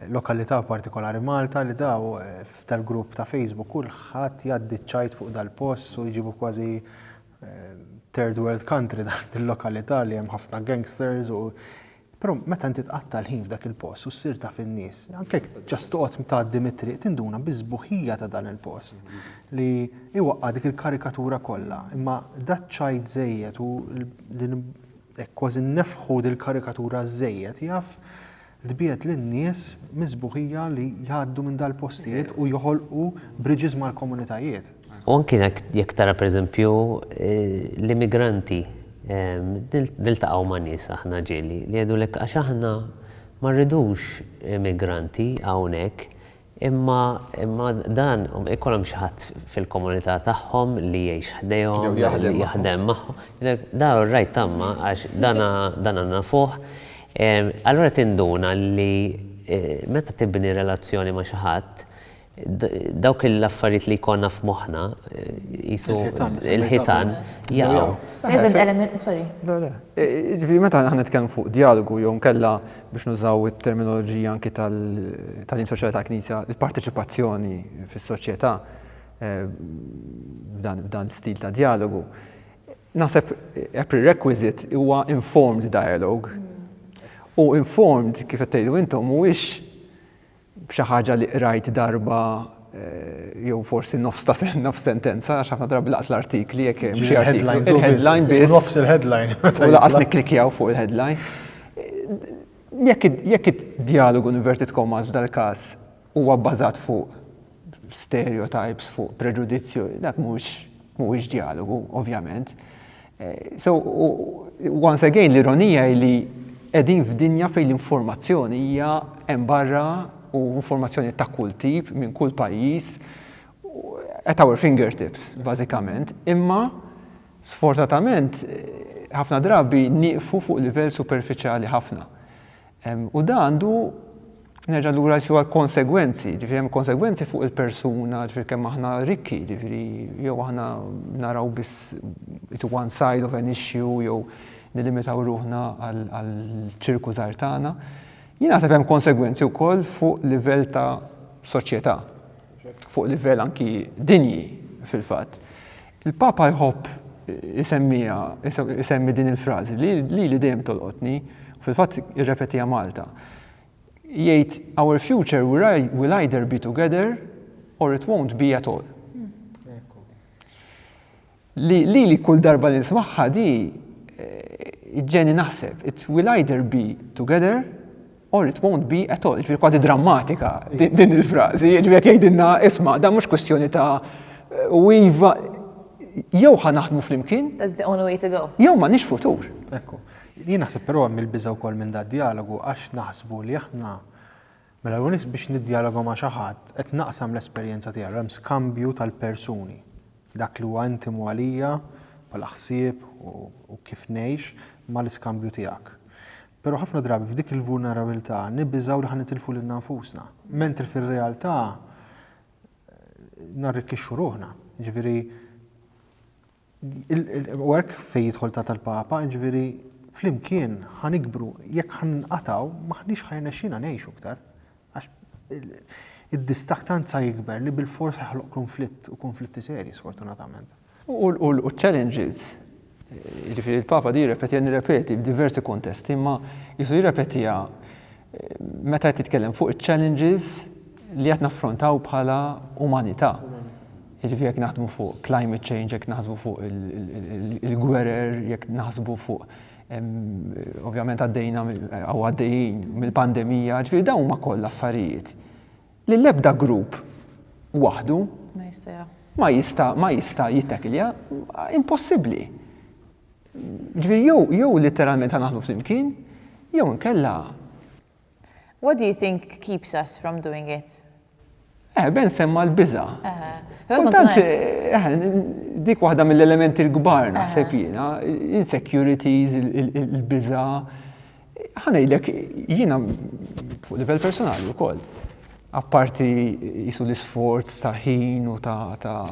Lokalità partikolari Malta li daw f'dal-grupp ta' Facebook kulħadd jgħaddi ċ-ċajt fuq dal-post u jġibu kważi third world country dil-lokalità li hemm ħafna gangsters u Però meta inti tqatta' l-ħin f'dak il-post u ssir taf in-nies, anke jekk just toqgħod tgħaddi mit-triq tinduna bis-sbuħija ta' dan il-post li iwaqqa' dik il-karikatura kollha. Imma daċ-ċajt żejjed u Hekk kważi nnefħu dil-karikatura żżejjed jaf tbiegħed lin-nies mis-sbuħija li jgħaddu minn dal-postijiet u joħolqu bridges mal-komunitajiet. U anki jekk tara pereżempju l-immigranti, niltaqgħu ma' nies aħna ġieli li jgħidulek għax aħna ma rridux immigranti hawnhekk, Imma imma dan ikun hemm xi ħadd fil-komunità tagħhom li jgħix ħdejhom. Jew jaħdem magħhom. Jaħdem magħhom. Daw ir-rajt tagħmha għax dana dana nafuh. Allura tinduna li meta tibni relazzjoni ma' xi ħadd, dawk l-affarijiet li jkollna f'moħħna qisu l-ħitan jaqgħu. Sorry. Le le. Jiġifieri meta aħna nitkellmu fuq djalogu jew inkella biex nużaw it-terminoloġija anki tal-Tagħlim Soċjali tal-Knisja, il-parteċipazzjoni fis-soċjetà f'dan l-istil ta' djalogu. Naħseb a prerequisite huwa informed dialogue. U informed, kif qed tgħidu intom, mhuwiex b'xi ħaġa li qrajt darba jew forsi nofs ta' nofs sentenza għax ħafna drabi laqas l-artikli jekk hemm xi artiklu. Il-headline biss. Nofs il-headline. U laqas nikklikjaw fuq il-headline. Jekk id-djalogu inverted commas f'dal-każ huwa bbażat fuq stereotypes fuq preġudizzju, dak mhux mhuwiex djalogu, ovvjament. Eh, so, once again, l-ironija li qegħdin f'dinja fejn l-informazzjoni hija hemm barra u informazzjoni ta' kull tip minn kull pajjiż at our fingertips, bażikament, imma sfortunatament ħafna drabi nieqfu fuq livell superfiċjali ħafna. U dan għandu, nerġa' lura jsiru għall-konsegwenzi, ġifieri hemm konsegwenzi fuq il-persuna, ġifieri kemm aħna rikki, ġifieri jew aħna naraw biss it's one side of an issue jew nilimitaw ruħna għall-ċirku żgħar tagħna. Jien naħseb hemm konsegwenzi wkoll fuq livell ta' soċjetà, fuq livell anki dinji fil-fatt. Il-Papa jħobb isemmiha, isemmi din il-frażi li lili dejjem tolqotni u fil-fatt irrepetiha Malta. Jgħid our future will either be together or it won't be at all. Li lili kull darba li nismagħha di ġeni naħseb it will either be together Or it won't be at all, ġviri kważi drammatika din il-frażi, ġviri qed jgħidilna isma' dan mhux kwistjoni ta' u iva jew ħa naħdmu flimkien. That's the only way to go. Jew ma nix futur. Ekku. Jien naħseb però hemm il-biża' wkoll minn da' dialogu għax naħsbu li aħna mela l nies biex niddialoga ma' xi ħadd qed naqsam l-esperjenza tiegħu hemm skambju tal-persuni. Dak li huwa intimu għalija bħala ħsieb u kif ngħix mal-iskambju tiegħek. Però ħafna drabi f'dik il-vulnerabilità nibbiżgħu li ħa nitilfu lilna nfusna, mentri fir-realtà narrikkixxu ruħna. Ġifieri u hekk fejn jidħol ta' tal-Papa, ġifieri flimkien ħa nikbru, jekk ħa nqatgħu m'aħniex ħa jirnexxina ngħixu iktar. Għax id-distakk tant sa jikber li bilfors ħa joħloq konflitt u konflitti serji sfortunatament. U l-challenges, jiġifieri l-Papa di jirrepetiha, nirrepeti f'diversi kuntesti, imma qisu jirrepetiha meta qed jitkellem fuq iċ-challenges li qed naffrontaw bħala umanità. Jiġifieri jekk naħdmu fuq climate change, jekk naħsbu fuq il-gwerer, jekk naħsbu fuq ovvjament għaddejna jew għaddejjin mill-pandemija, jiġifieri dawn huma kollha affarijiet li l-ebda grupp waħdu ma jista' ma jista' jittakilja impossibbli. Ġifieri jew jew litteralment ħa naħdmu flimkien jew inkella. What do you think keeps us from doing it? Eh, Ben semma l-biża. Kultant, eh, dik waħda mill-elementi l-kbar naħseb jiena, insecurities, il-biża, Ħa ngħidlek jiena fuq livell personali wkoll. Apparti jisu l-isforz ta' ħin u ta' ta'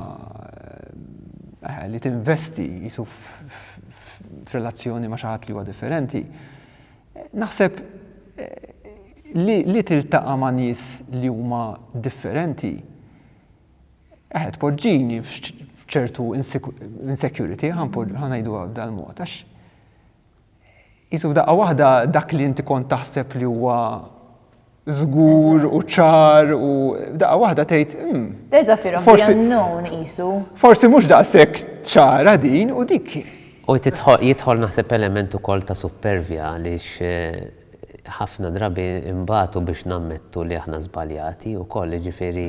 eh, li tinvesti jisu f'relazzjoni ma' xaħat li huwa differenti. Naħseb eh, li, li tiltaqa' ma' nies li huma differenti eħed poġġini f'ċertu insecurity, ħanajdu dal-mod, għax qisu f'daqqa waħda dak li inti kont taħseb li huwa żgur u ċar u daqqa waħda tgħid. Hmm, There's fear of the unknown qisu. Forsi mhux daqshekk ċara din u dik. U jidħol naħseb element ukoll ta' supervja għaliex eh, ħafna drabi imbatu biex nammettu li aħna żbaljati u koll ġifiri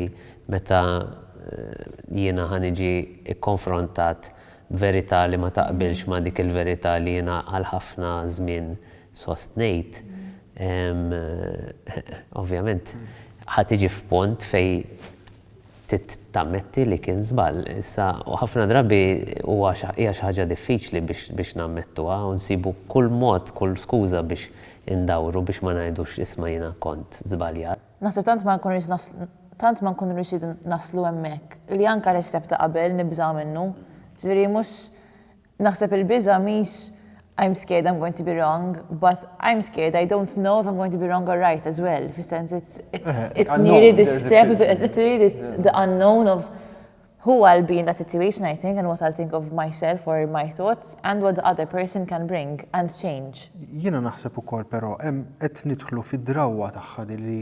meta eh, jiena ħaniġi ikkonfrontat verità li ma taqbilx ma' dik il-verità li jiena għal ħafna żmien sostnejt, ovvjament ħa tiġi f'pont fejn tammetti li kien żball. Issa, u ħafna drabi huwa hija xi ħaġa diffiċli biex nammettuha u nsibu kull mod, kull skuża biex indawru biex ma ngħidux isma' jiena kont żbaljat. Naħseb tant ma nkun rrid naslu, tant ma nkun riexit naslu hemmhekk, li anke l-istep ta' qabel nibża' minnu. Ġifieri mhux, naħseb il-biża' mhix I'm scared I'm going to be wrong, but I'm scared I don't know if I'm going to be wrong or right as well, fis-sens it's it's it's nearly the step, literally the unknown of Hu għal being that situation I think and what I'll think of myself or my thoughts and what the other person can bring and change. Jiena naħseb ukoll però hemm qed nidħlu fid-drawwa tagħha din li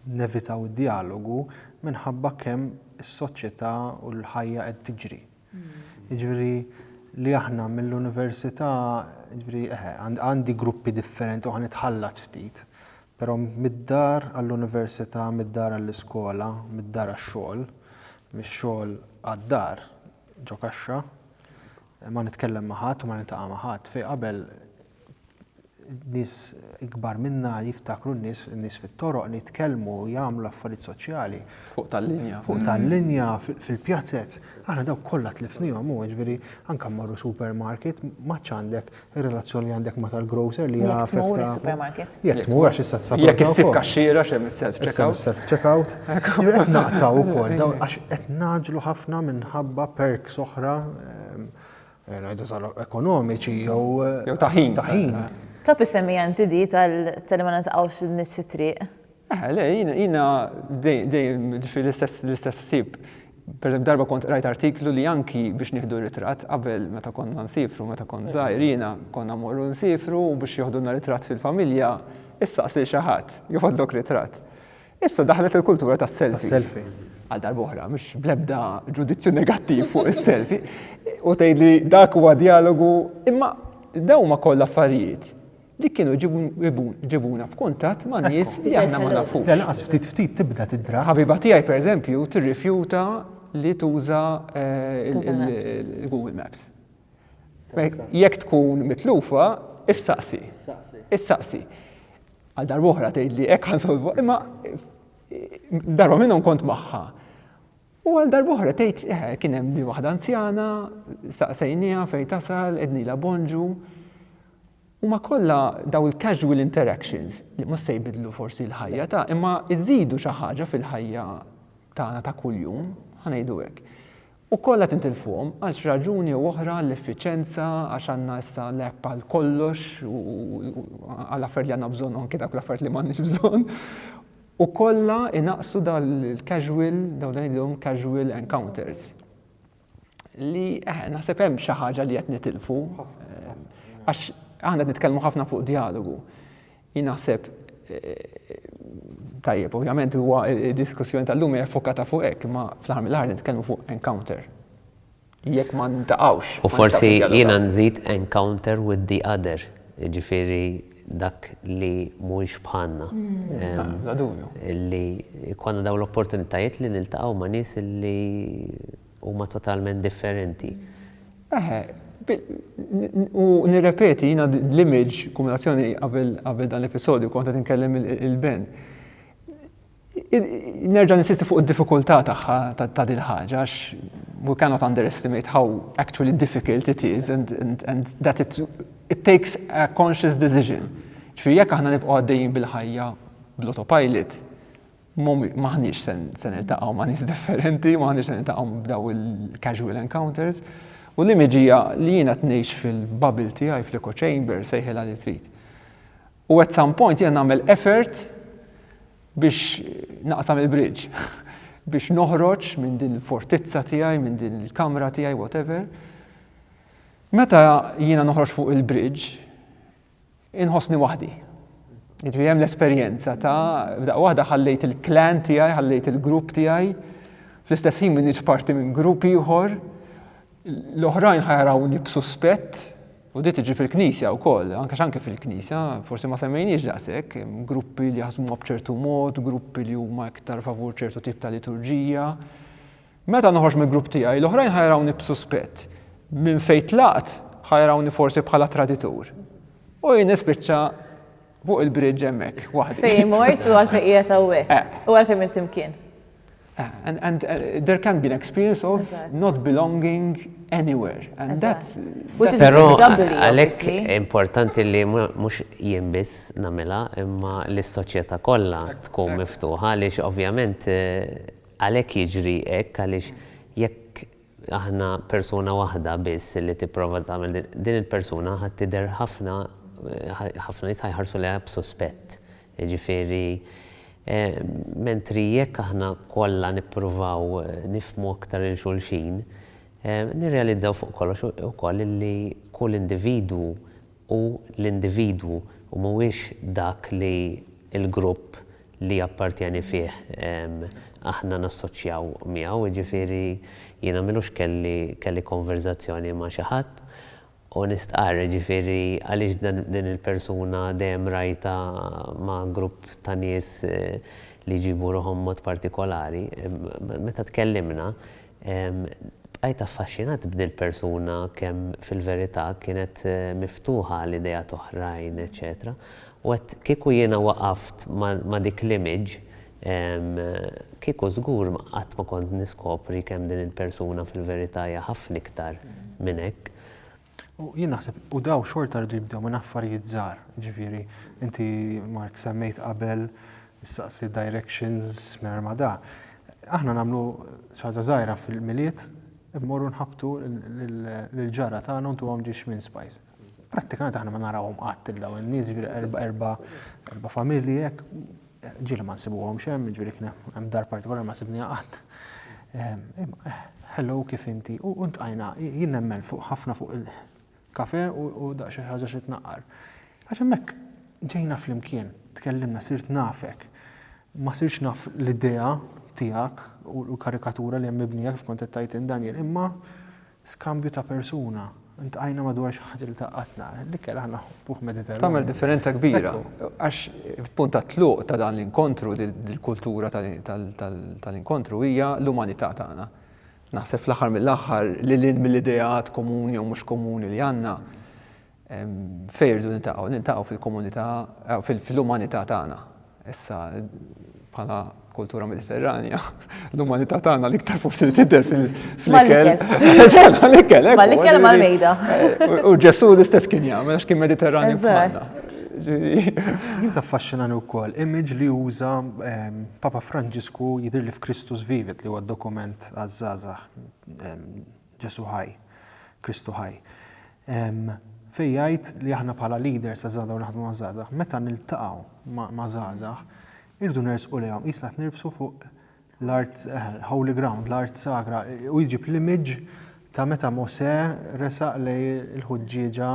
nevitaw id-djalogu minħabba kemm is-soċjetà u l-ħajja qed tiġri. Jiġifieri li aħna mill-università, jiġifieri eħe, għandi gruppi differenti u ħa nitħallat ftit. Però mid-dar għall-università, mid-dar għall-iskola, mid-dar għax-xogħol, mix-xogħol għad-dar ġo kaxxa, ma nitkellem ma' ħadd u ma niltaqa' ma' ħadd. Fejn qabel nies ikbar minna jiftakru n-nies, n-nies fit-toroq nitkellmu, jagħmlu affarijiet soċjali. Fuq tal-linja. Fuq tal-linja, fil-pjazez, aħna dawk kollha tlifnihom, hu jiġifieri anke mmorru supermarket, ma għandek Ir-relazzjoni li għandek ma' tal-grocer li Jekk tmur is-supermarket. Jekk tmur għax issa tsab. Jekk issib kaxxiera xem is-self checkout. Self checkout. Qed naqtaw ukoll għax qed naġlu ħafna minħabba perks oħra ehm, eh, ngħidu sal ekonomiċi jew eh, jew taħin. Taħin. Top issemmi anti di tal-li ma naqtaqgħux nies fit-triq. Eħe, le, jiena dejjem ġifieri l-istess l-istess ħsieb. Pereżempju darba kont qrajt artiklu li anki biex nieħdu ritratt qabel meta konna nsifru, meta kont żgħir jiena, konna mmorru nsifru u biex joħdulna ritratt fil-familja, issaqs lil xi ħadd joħodlok ritratt. Issa daħlet il-kultura tas-selfies. Għal darba oħra, mhux bl-ebda ġudizzju negattiv fuq is-selfie, u tgħidli dak huwa djalogu, imma dawn huma kollha affarijiet. li kienu ġibuna f'kuntatt ma' nies li aħna ma nafux. Le laqas ftit ftit tibda tidra. Ħabiba tiegħi pereżempju tirrifjuta li tuża l-Google Maps. Jekk tkun mitlufa, issaqsi. Issaqsi. Għal darba oħra tgħidli hekk ħansolvu, imma darba minnhom kont magħha. U għal darba oħra tgħid eh, kien hemm di waħda anzjana, saqsejniha fejn tasal, ednila bonġu. Huma kollha dawn il-casual interactions li mhux se jbiddlu forsi l-ħajja ta' imma jżidu xi ħaġa fil-ħajja tagħna ta' kuljum, ħa ngħidu hekk. U kollha tintilfuhom għal xi raġuni u oħra għall-effiċenza, għax għandna issa l-app għal kollox u għal affarijiet li għandna bżonn u anki dawk l-affarijiet li m'għandniex bżonn. U kollha jnaqqsu dal-casual, dawn li ngħidilhom casual encounters. li eh, naħseb hemm xi ħaġa li qed nitilfu. Għax aħna qed nitkellmu ħafna fuq dialogu. Jien naħseb eh, tajjeb, ovvjament huwa diskussjoni tal-lum hija fokata fuq hekk, ma fl-aħħar mill-aħħar nitkellmu fuq encounter. Jekk ma ntaqgħux. U forsi jiena nżid encounter with the other, ġifieri dak li mhuwiex bħalna. Bla dubju. Li jkollna dawn l-opportunitajiet li niltaqgħu ma' nies li huma totalment differenti. Eħe, u nirrepeti jiena l-image, kombinazzjoni qabel dan l-episodju kont qed inkellem il-Ben. Nerġa' ninsisti fuq id-diffikultà tagħha ta' din ħaġa għax we cannot underestimate how actually difficult it is and, and, and that it, it takes a conscious decision. Ġifieri jekk aħna nibqgħu għaddejjin bil-ħajja bl-autopilot, maħniex se niltaqgħu ma' nies differenti, maħniex se niltaqgħu b'daw il-casual encounters. U l-imiġija li jiena tnejx fil-bubble tiegħi fl-echo chamber sejħilha li trid. U at some point jiena nagħmel effort biex naqsam il-bridge, biex noħroġ minn din il-fortizza tiegħi, minn din il-kamra tiegħi, whatever. Meta jiena noħroġ fuq il-bridge, inħossni waħdi. Jitri hemm l-esperjenza ta' daqqa waħda ħallejt il-klan tiegħi, ħallejt il-grupp tiegħi, fl-istess ħin minn parti minn grupp ieħor, l-oħrajn ħajrawni b'suspett, U di tiġi fil-Knisja wkoll, anke x'anke fil-Knisja, forsi ma semmejniex daqshekk, hemm gruppi li jaħsmuha b'ċertu mod, gruppi li huma iktar favur ċertu tip ta' liturġija. Meta noħroġ mill-grupp tiegħi, l-oħrajn ħa jarawni b'suspett. Minn fejn tlaqt ħa jarawni forsi bħala traditur. U jien nispiċċa Fuq il-bridge hemmhekk, waħdi. Fejn mort u għalfejn qiegħed hawnhekk. Eh. U għalfejn minn timkien. Eh, and, and uh, there can be an experience of exactly. not belonging anywhere. And exactly. that's, that's Pero għalek importanti li mux jimbis namela imma l-soċieta kolla tkun miftuħa għalix ovvjament eh, għalek jiġri ek għalix jekk Aħna persuna waħda biss li tipprova tagħmel din, din il-persuna ħa tidher ħafna, ħafna nies ħa jħarsu lejha b'suspett. Jiġifieri, mentri jekk aħna kollha nippruvaw nifhmu aktar lil xulxin, nirrealizzaw fuq kollox ukoll li kull individwu hu l-individwu u mhuwiex dak li l-grupp li jappartjeni fih aħna nassoċjaw miegħu. Jiġifieri jiena m'ilux kelli kelli konverżazzjoni ma' xi ħadd u nistqarr, jiġifieri għaliex dan din il-persuna dejjem rajtha ma' grupp ta' nies li jġibu ruħhom mod partikolari. Meta tkellimna, Bqajt affaxxinat b'dil-persuna kemm fil-verità kienet miftuħa għal ideat oħrajn eċċetera u għedt kieku jiena waqaft ma' dik l-image kieku żgur qatt ma kont niskopri kemm din il-persuna fil-verità hija ħafna iktar minn hekk. U jien naħseb, u daw xorta rridu jibdew minn affarijiet żgħar, ġifieri, inti Mark semmejt qabel saqsi directions minn ma da. Aħna nagħmlu ħaġa żgħira fil-miliet, immorru nħabtu l-ġara tagħna ntu għom ġiex minn spice. Prattikament aħna ma narawhom qatt il-daw in-nies, ġifieri erba' familji hekk, Ġieli ma nsibuhomx hemm, jiġifieri kien hemm dar partikolari ma sibniha qatt. Hello kif inti? U ntqajna, jien nemmen fuq ħafna fuq il-kafe u daqs xi ħaġa xi tnaqqar. Għax hemmhekk ġejna flimkien, tkellimna, sirt nafek. Ma sirtx naf l-idea tiegħek u l-karikatura li hemm mibnija kif kont qed tgħid int Daniel, imma Skambju ta' persuna, ntqajna madwar xi ħaġa li tgħaqqadna, l-ikel aħna nħobbuh Mediterranju. Tagħmel differenza kbira, għax il-punt tat-tluq ta' dan l-inkontru, dil-kultura tal-inkontru hija l-umanità tagħna. Naħseb fl-aħħar mill-aħħar, lil hinn mill-ideat komuni jew mhux komuni li għandna, Fejn irridu niltaqgħu? Niltaqgħu fil-komunità, fil-umanità tagħna. Issa, bħala kultura mediterranja, l-umanità tagħna l-iktar forsi li tidher fil-ikel. Mal-ikel, eh? Mal-ikel mal-mejda. U Ġesu l-istess kien jagħmel għax kien mediterranju bħalna. Jien taffaxxinani wkoll image li uża ehm, Papa Franġisku jidhirli f'Kristus Vivit li huwa dokument għaż-żgħażagħ ehm, Ġesù ħaj, Kristu ħaj. Fejn jgħid li aħna bħala leaders ta' żgħażagħ u naħdmu ma' żgħażagħ, meta niltaqgħu ma' żgħażagħ, irridu nersqu lejhom, qisna qed nirfsu fuq l-art holy ground, l-art sagra, u jġib l-image ta' meta Mosè resaq lej il-ħuġġieġa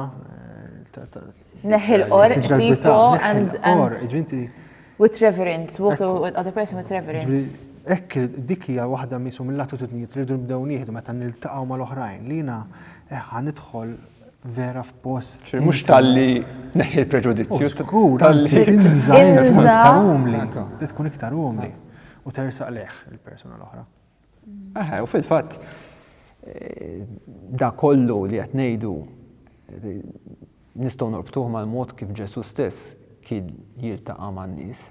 Neħi l-or, tipo, and, and with reverence, what other person with reverence. Ekk, dik hija waħda misu mill-attitudnijiet li rridu nibdew nieħdu meta niltaqgħu mal-oħrajn li jiena eħħa eh, nidħol vera f'post. Mhux talli neħi l-preġudizzju. Skur, talli tinża' tkun iktar umli. Tkun iktar umli. U tersaq leħ il-persuna l-oħra. Aha, u fil-fatt da kollu li qed ngħidu nistgħu norbtuh mal-mod kif Ġesu stess kien jiltaqa' man-nies.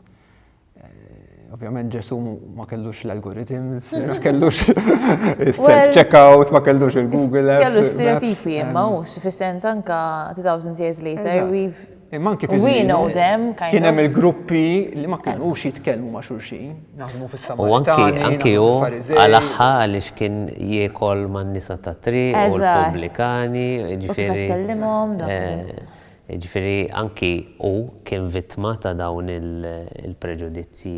Eh, ovvjament Ġesu ma kellux l-algorithms, ma kellux il-self-checkout, ma kellux il-Google. Kellux stereotipi, imma u fis-sens anka 2000 years later, we've Imma anki fi We know them, kind Kien hemm il-gruppi li ma kinux jitkellmu ma' xulxin, naħdmu fis-sama. U anki anki hu għal aħħa għaliex kien jiekol man-nisa ta' tri u l-pubblikani, ġifieri. Eh, ġifieri anki hu kien vittma ta' dawn il-preġudizzji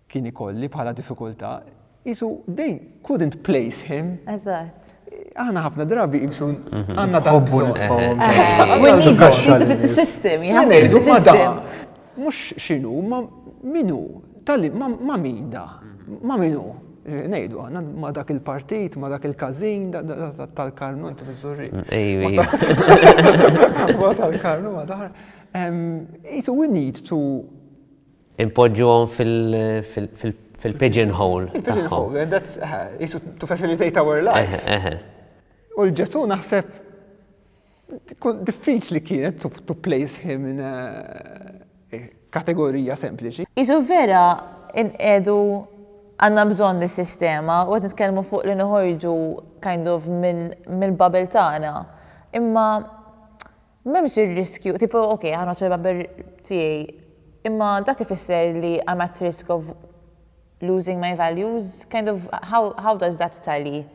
kien ikolli bħala diffikultà, qisu they couldn't place him. Eżatt. Aħna ħafna drabi qisu mhm. għandna dan bżonn. We need to fit the system, you have to fit the system. Mhux x'inhu, ma minhu, tal ma min da, ma minhu. Nejdu, għanna ma dak il-partit, ma dak il-kazin, tal-karnu, inti mizzurri. Ma tal-karnu, ma daħar. Jisu, we need to Inpoġġuhom fil-pigeon hole. Pigeon hole, that's, jisu to facilitate our life. U l-Ġesu naħseb, diffiċ li kienet to place him in a kategorija sempliċi. Jisu vera, inqedu għanna bżon li sistema, u għet nitkellmu fuq li nħorġu kind of mill-bubble tagħna. Imma M'hemmx ir-riskju, tipo, ok, ħa ngħodd mal-barber tiegħi, imma dak ifisser li I'm at risk of losing my values? Kind of, how, how does that tally?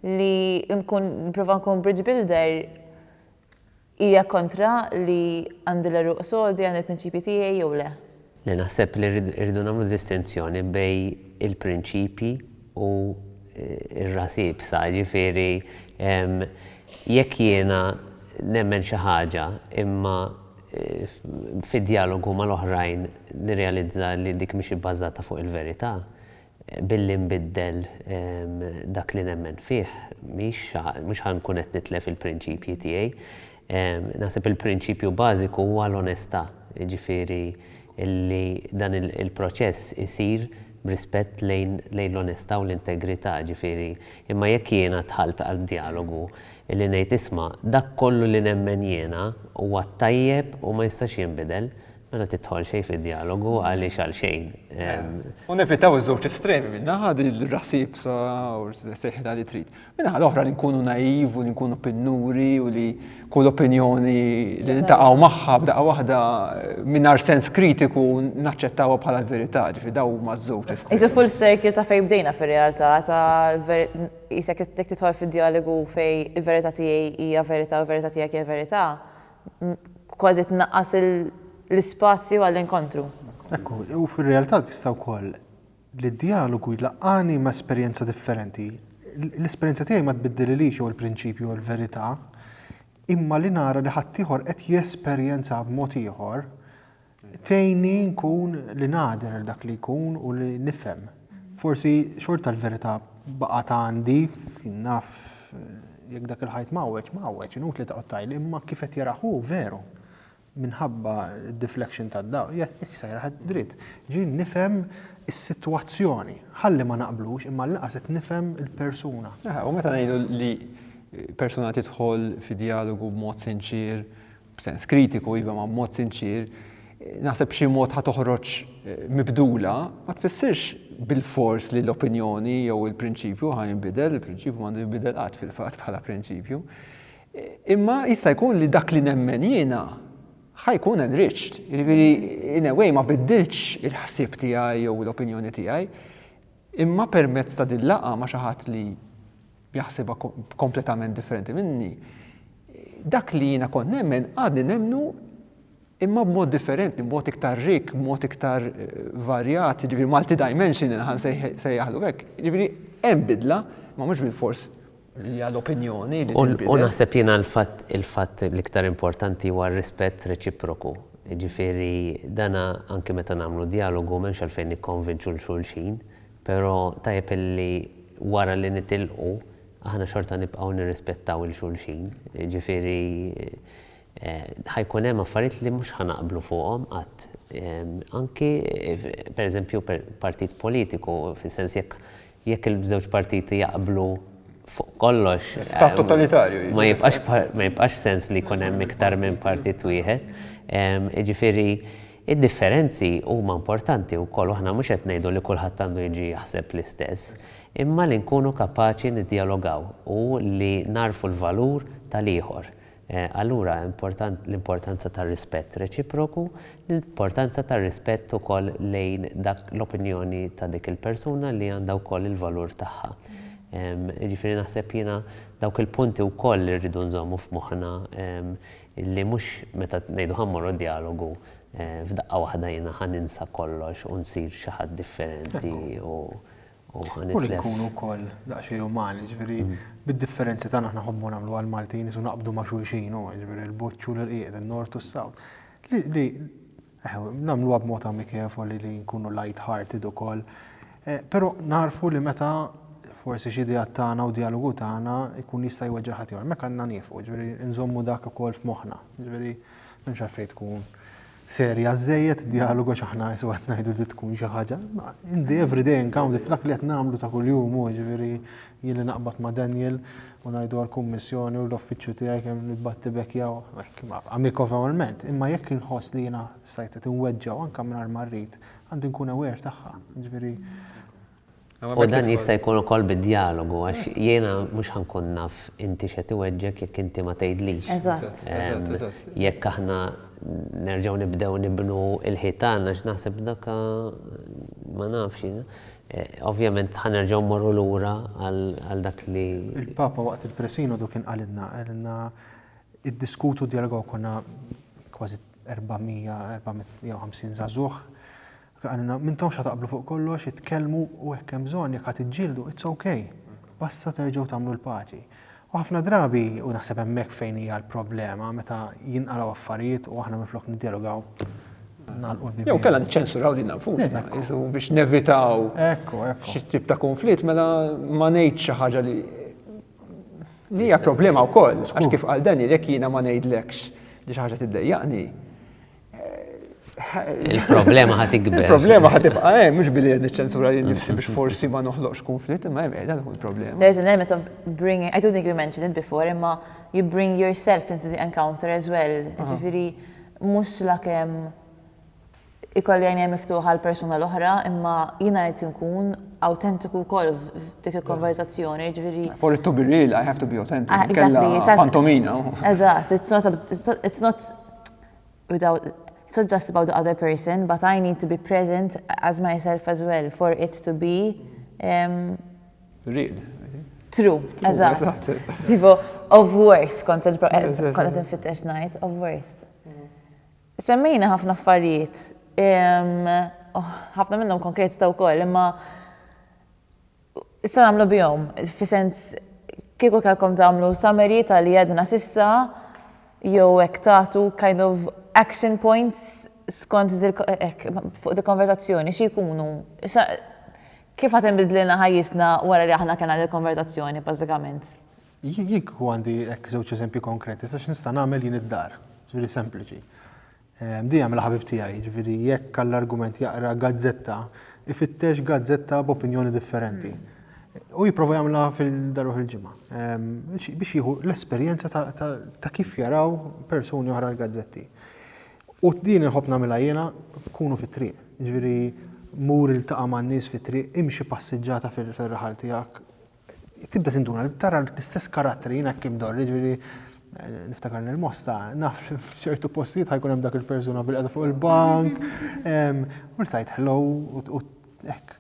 Li nkun, nipprova nkun bridge builder hija kontra li għandi l-għeruq sodi, għandi l-prinċipji tiegħi jew le? li naħseb li rridu nagħmlu distinzjoni bejn il-prinċipji u r-ras iebsa, jiġifieri jekk jiena nemmen xi ħaġa imma fid-djalogu mal-oħrajn nirrealizza li dik mhix ibbażata fuq il-verità, Billi nbiddel dak li nemmen fih, mhux ħa nkun qed nitlef il-prinċipji tiegħi. Naħseb il-prinċipju bażiku huwa l-onestà, jiġifieri li dan il-proċess isir b'rispett lejn l-onestà u l-integrità, jiġifieri imma jekk jiena dħalt għal djalogu li ngħid isma' dak kollu li nemmen jiena huwa t-tajjeb u ma jistax jinbidel, Mela tidħol xejn fid-djalogu għaliex għal xejn. U nevitaw iż-żewġ estremi minna ħad il-rasib sa u seħħita li trid. Minna ħad oħra li nkunu naiv u li nkunu pinnuri u li kull opinjoni li nintaqgħu magħha b'daqqa waħda mingħajr sens kritiku naċċettawha bħala l-verità, ġifi daw ma' żewġ estremi. Isu full circle ta' fej bdejna fir-realtà ta' jisek tidħol fid-djalogu fej il-verità tiegħi hija verità u verità tiegħek hija verità. kważi tnaqqas l-ispazju għall-inkontru. Ekku, u fir-realtà tista' wkoll li d-djalogu jlaqqagħni ma' esperjenza differenti. L-esperjenza tiegħi ma tbiddililix jew il-prinċipju jew l-verità, imma li nara li ħaddieħor qed jesperjenzha b'mod ieħor, Tgħinni nkun li nagħder għal dak li jkun u li nifhem. Forsi xorta l-verità baqgħet għandi, naf jekk dak il-ħajt mawweġ, mawweġ, inut li taqgħod tajli, imma kif qed jarah hu veru minħabba d-deflection tad-dawl, qed isejjaħ dritt. Ġieli nifhem is-sitwazzjoni. Ħalli ma naqblux, imma għall-inqas qed nifhem il-persuna. U meta ngħidu li persuna tidħol fi djalogu b'mod sinċier, b'sens kritiku iva ma' mod sinċier, naħseb b'xi mod ħa toħroġ mibdula, ma tfissirx bilfors li l-opinjoni jew il-prinċipju ħa jinbidel, il-prinċipju m'għandu jinbidel qatt fil-fatt bħala prinċipju. Imma jista' jkun li dak li nemmen jiena ħa jkun enriched, jiġifieri in a way ma biddilx il-ħsieb tiegħi jew l-opinjoni tiegħi, imma permezz ta' din laqgħa ma' xi ħadd li jaħsibha kompletament differenti minni, dak li jiena kont nemmen għadni nemmnu imma b'mod differenti, b'mod iktar rik, b'mod iktar eh, varjat, ġifieri multidimensional ħan sejjaħlu hekk. Ġifieri hemm bidla, ma mhux bil-fors li għal opinjoni li U naħseb jiena l-fatt il-fatt l-iktar importanti huwa rispett reċiproku. Ġifieri dana anke meta nagħmlu dialogu m'hemmx għalfejn nikkonvinċu l xulxin, Però tajjeb illi wara li nitilqu aħna xorta nibqgħu nirrispettaw 'il xulxin. Jiġifieri ħa jkun hemm affarijiet li mhux ħa naqblu fuqhom qatt. Anki pereżempju partit politiku, fis-sens jekk jekk il-żewġ partiti jaqblu fuq kollox. Stat totalitarju jiġifieri. Ma jibqax ma jibqax sens li jkun hemm iktar minn partit wieħed. Jiġifieri Id-differenzi huma importanti wkoll u aħna mhux qed ngħidu li kulħadd għandu jiġi jaħseb l-istess, imma li nkunu kapaċi niddjalogaw u li nagħrfu l-valur tal-ieħor. Allura important l-importanza tar-rispett reċiproku, l-importanza tar-rispett ukoll lejn dak l-opinjoni ta' dik il-persuna li għandha wkoll il-valur tagħha. Jiġifieri naħseb jiena dawk il-punti wkoll li rridu nżommu f'moħħna Li mhux meta ngħidu ħa mmorru d-djalogu, f'daqqa waħda jiena ħa ninsa kollox u nsir xi ħadd differenti u ħa nitlef. U li nkunu wkoll daqsxejn umani, jiġifieri bid-differenzi tagħna aħna nħobbu nagħmlu għall-Maltin isu naqbdu ma' xulxin u jiġifieri l-Buċċ u l-Irqiq, in-Nord u s-South. Li Nagħmluha b'mod amikevoli li nkunu light hearted ukoll. Però nagħrfu li meta forsi xi ideat tagħna u djalogu tagħna jkun jista' jweġġa' ħadd ieħor, hemmhekk għandna niefqu, ġifieri nżommu dak ukoll f'moħħna. Ġifieri m'hemmx għalfejn tkun serja żżejjed id-djalogu għax aħna qisha qed ngħidu li tkun xi ħaġa, in the everyday encounter, f'dak li qed nagħmlu ta' kuljum hu, ġifieri Jien li naqbad ma' Daniel u ngħidu għall-Kummissjoni u l-Uffiċċju tiegħi kemm nibbatti b'hekk jew hekk, amikovolment, imma jekk inħoss li jiena stajt qed inweġġgħu anke mingħajr ma rrid, għandi nkun aware tagħha. Jiġifieri U dan jista' jkun ukoll bid-djalogu għax jiena mhux ħa nkun naf inti x'qed iweġġgħek jekk inti ma tgħidlix. Eżatt. Jekk aħna nerġgħu nibdew nibnu l-ħitan għax naħseb dak ma nafx, Ovvjament ħa nerġgħu mmorru lura għal dak li. Il-Papa waqt il-Presinodu kien qalilna, qalilna iddiskutu djalogaw konna kważi 400, 450 żagħżugħ. Qalilna m'intomx ħa taqblu fuq kollox, itkellmu u hekk hemm bżonn jekk ħa tiġġieldu, it's ok. Basta terġgħu tagħmlu l-paċi. U ħafna drabi, u naħseb hemmhekk fejn hija l-problema, meta jinqalgħu affarijiet u aħna minflok niddialogaw nagħlqu l-bieb. Jew kellha niċċensuraw lil nfusna biex nevitaw xi tip ta' konflitt mela ma ngħid xi ħaġa li li hija problema wkoll, għax kif għal dan jekk jiena ma ngħidlekx li xi ħaġa tiddejjaqni, Il-problema ħat ikber. Il-problema ħat ibqa' hemm, eh, mhux billi qed niċċensura li nifsi biex forsi ma noħloqx konflitt, imma hemm qiegħda tkun problema. There's an element of bringing, I don't think you mentioned it before, imma you bring yourself into the encounter as well. Ġifieri mhux la kemm ikolli għajnija miftuħa l-persuna l-oħra, imma jiena rrid nkun autentiku wkoll f'dik il-konverzazzjoni, ġifieri. For it to be real, I have to be authentic. Ah, exactly. Pantomina. Eżatt, it's not without, it's not just about the other person, but I need to be present as myself as well for it to be um, real. True, eżatt. Tipo, of worst, kont qed infittex ngħid, of worst. Semmejna ħafna affarijiet, oh, ħafna minnhom konkret ta' wkoll, imma Issa nagħmlu bihom, fi sens kieku kellkom tagħmlu summary ta' li għedna s'issa jew hekk tagħtu kind of action points skont hekk fuq dil-konverżazzjoni xi jkunu? Issa kif ħa tinbidlilna ħajjitna wara li aħna kellna dil-konverżazzjoni bażikament? Jien kieku għandi hekk żewġ eżempji konkreti ta' x'nista' nagħmel jien id-dar, jiġifieri sempliċi. Mdie jagħmilha ħabib tiegħi, jiġifieri jekk għall-argument jaqra gazzetta, ifittex gazzetta b'opinjoni differenti. U jipprova jagħmilha fil-darba fil-ġimgħa. Biex jieħu l-esperjenza ta' kif jaraw persuni oħra l-gazzetti. U din inħobb nagħmilha jiena kunu fit-triq. Jiġifieri mur iltaqa' man-nies fit-triq, imxi passiġġata fir-raħal tiegħek, tibda tinduna, tara l-istess karatteri jien hekk imdorri, ġifieri niftakar nil-mosta, naf li f'ċertu postijiet ħajkun hemm dak il-persuna bil-qeda fuq il-bank, u li tajt hello u hekk.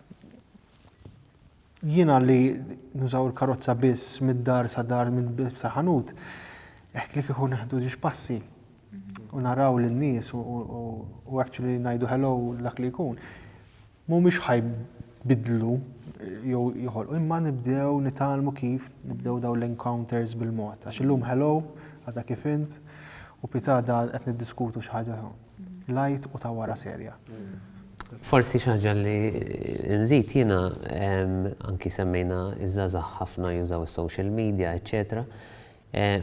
Jiena li nużaw il-karozza biss mid-dar sa dar minn sa ħanut, hekk li kieku neħdu ġiex passi u naraw lin-nies u actually ngħidu hello dak li jkun. mhumiex ħa jbiddlu jew joħolqu imma nibdew nitgħallmu kif nibdew dawn l-encounters bil-mod. Għax illum hello, għadha kif int, u pitada qed niddiskutu xi ħaġa light u ta' wara serja. Forsi xaġa li nżid jiena anki semmejna iż-żazax ħafna jużaw is-social media, eċċetera.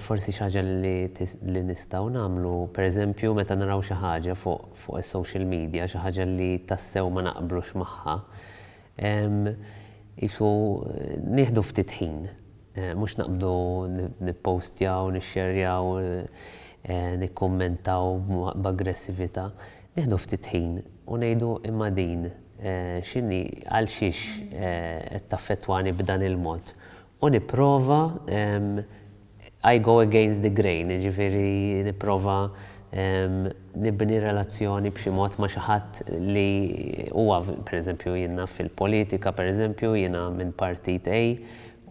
Forsi xi ħaġa li nistgħu nagħmlu, pereżempju meta naraw xi ħaġa fuq is-social media, xi ħaġa li tassew ma naqblux magħha, qisu nieħdu ftit ħin, mhux naqbdu nippostjaw, nixxerjaw, nikkummentaw b'aggressività, nieħdu ftit ħin u ngħidu imma din x'inhi, għalxiex qed taffettwani b'dan il-mod U nipprova, I go against the grain, jiġifieri nipprova nibni relazzjoni b'xi mod ma' xi ħadd li huwa, per eżempju, jien naf fil-politika, per eżempju, jiena minn partit A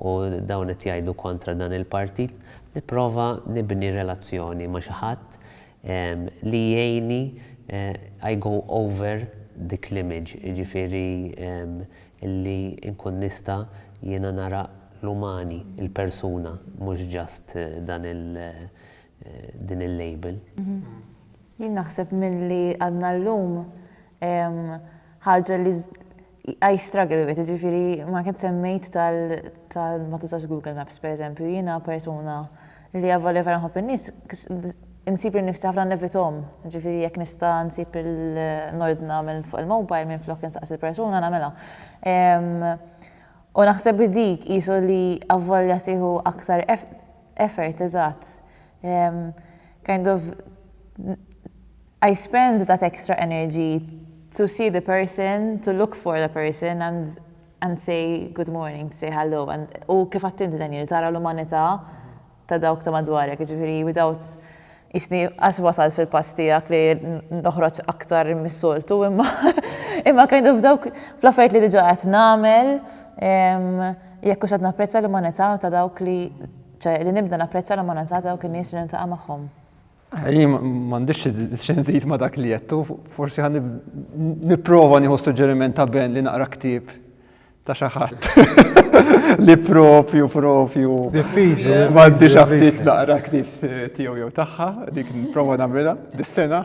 u dawn qed jgħidu kontra dan il-partit, nipprova nibni relazzjoni ma' xi ħadd li jgħinni I go over dik l-image, jiġifieri li nkun nista' jiena nara l-umani, il-persuna, mhux just dan il din il-label. Jien naħseb milli għadna llum ħaġa li I struggle with it, jiġifieri ma kien semmejt tal ma tużax Google Maps pereżempju, jiena persuna li avolja vera nħobb in-nies, insib lil nifsi ħafna nevithom, jiġifieri jekk nista' nsib nordna minn fuq il-mobile minflok insaqsi l-persuna nagħmilha. U naħseb li dik qisu li avolja tieħu aktar effort, eżatt, kind of I spend that extra energy to see the person, to look for the person and and say good morning, to say hello and u kif għedt inti Daniel, tara l-umanità ta' dawk ta' madwarek, jiġifieri without qisni qas wasalt fil-pass tiegħek li noħroġ aktar mis-soltu imma imma kind of dawk fl-affarijiet li diġà qed nagħmel jekk hux qed napprezza l-umanità ta' dawk li ċe li nibda napprezza l-umanità ta' dawk in-nies li niltaqa' magħhom. Jien m'għandix xi nżid ma' dak li għedt u forsi ħa nipprova nieħu s-suġġeriment ta' Ben li naqra ktieb ta' xi ħadd li propju propju diffiċli m'għandix aptit naqra ktieb tiegħu jew tagħha dik nipprova nagħmilha dis-sena.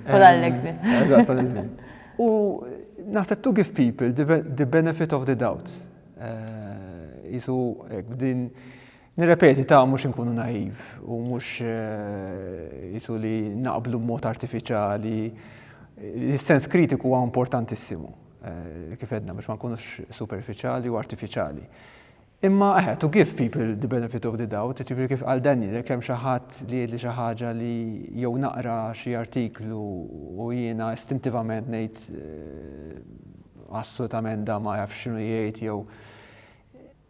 Pal Alex Bin. Eżatt, pal Alex Bin. U naħseb to give people the benefit of the doubt. Isu din Nirrepeti ta' mhux inkunu naiv u mhux eh, jisu li naqblu b'mod artifiċjali. Is-sens kritiku huwa importantissimu, eh, kif edna biex ma nkunux superfiċjali u artifiċjali. Imma eħe, eh, to give people the benefit of the doubt, ġifieri kif għal Daniel, jekk hemm xi ħadd li jgħidli xi ħaġa li jew naqra xi artiklu u jiena istintivament ngħid assolutament da ma jaf x'inhu jgħid jew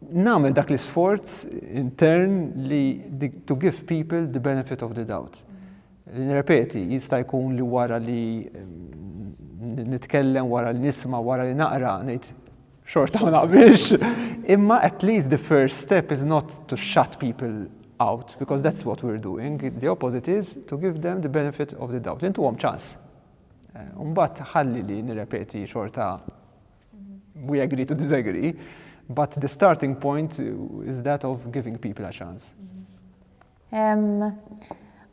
nagħmel dak l-isforz intern li to give people the benefit of the doubt. Li nirrepeti, jista' jkun li wara li mm, nitkellem, wara li nisma, wara li naqra, ngħid xorta ma naqbilx. Imma at least the first step is not to shut people out, because that's what we're doing. The opposite is to give them the benefit of the doubt. Intu għom ċans. Eh, Umbat ħalli li nirrepeti xorta we agree to disagree, but the starting point is that of giving people a chance.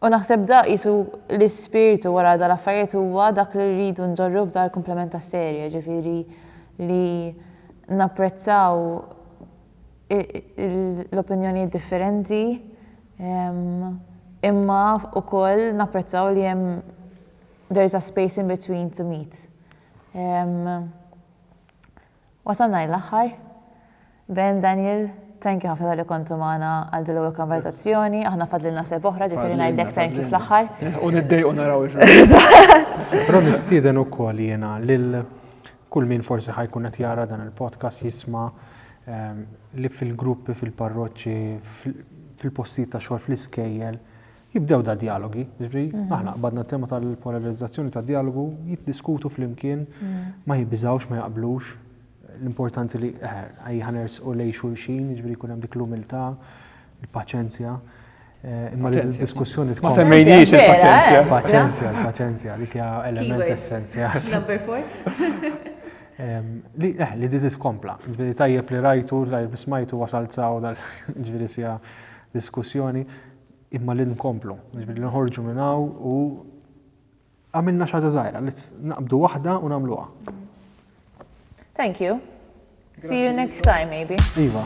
U naħseb da jisu l-ispirtu wara da l-affarijiet huwa dak li rridu nġorru f'dar komplement ta' serje, ġifiri li napprezzaw l-opinjoni differenti, imma u koll napprezzaw li jem there is a space in between to meet. Ehm wasalna l-aħħar. Ben, Daniel, thank you ħafna tal-li kontu magħna għal din l-ewwel konversazzjoni. Aħna fadlilna seb oħra ġifieri ngħidlek thank you fl-aħħar. U niddejqu naraw Però nistieden ukoll jiena lil kull min forsi ħajkun qed jara dan il-podcast jisma' li fil-gruppi, fil-parroċċi, fil-postijiet ta' xogħol, fl-iskejjel, Jibdew dad-djalogi, jiġifieri aħna qbadna t-tema tal-polarizzazzjoni tad-djalogu, jiddiskutu flimkien, ma jibżgħux, ma jaqblux, l-importanti li ejja ħa nersqu lejn xulxin, jiġifieri jkun hemm dik l-umiltà, il-paċenzja, imma li d-diskussjoni tkun. Ma semmejniex il-paċenzja. Il-paċenzja, il-paċenzja, dik hija element essenzjali. Number four. Li eħli di titkompla, ġviri tajjeb li rajtu, tajjeb li smajtu wasal tsaw dal-ġviri sija diskussjoni, imma li nkomplu, jiġifieri li nħorġu minn hawn u għamilna xi ħaġa żgħira, li naqbdu waħda u nagħmluha. Thank you. See you next time, maybe. Iva.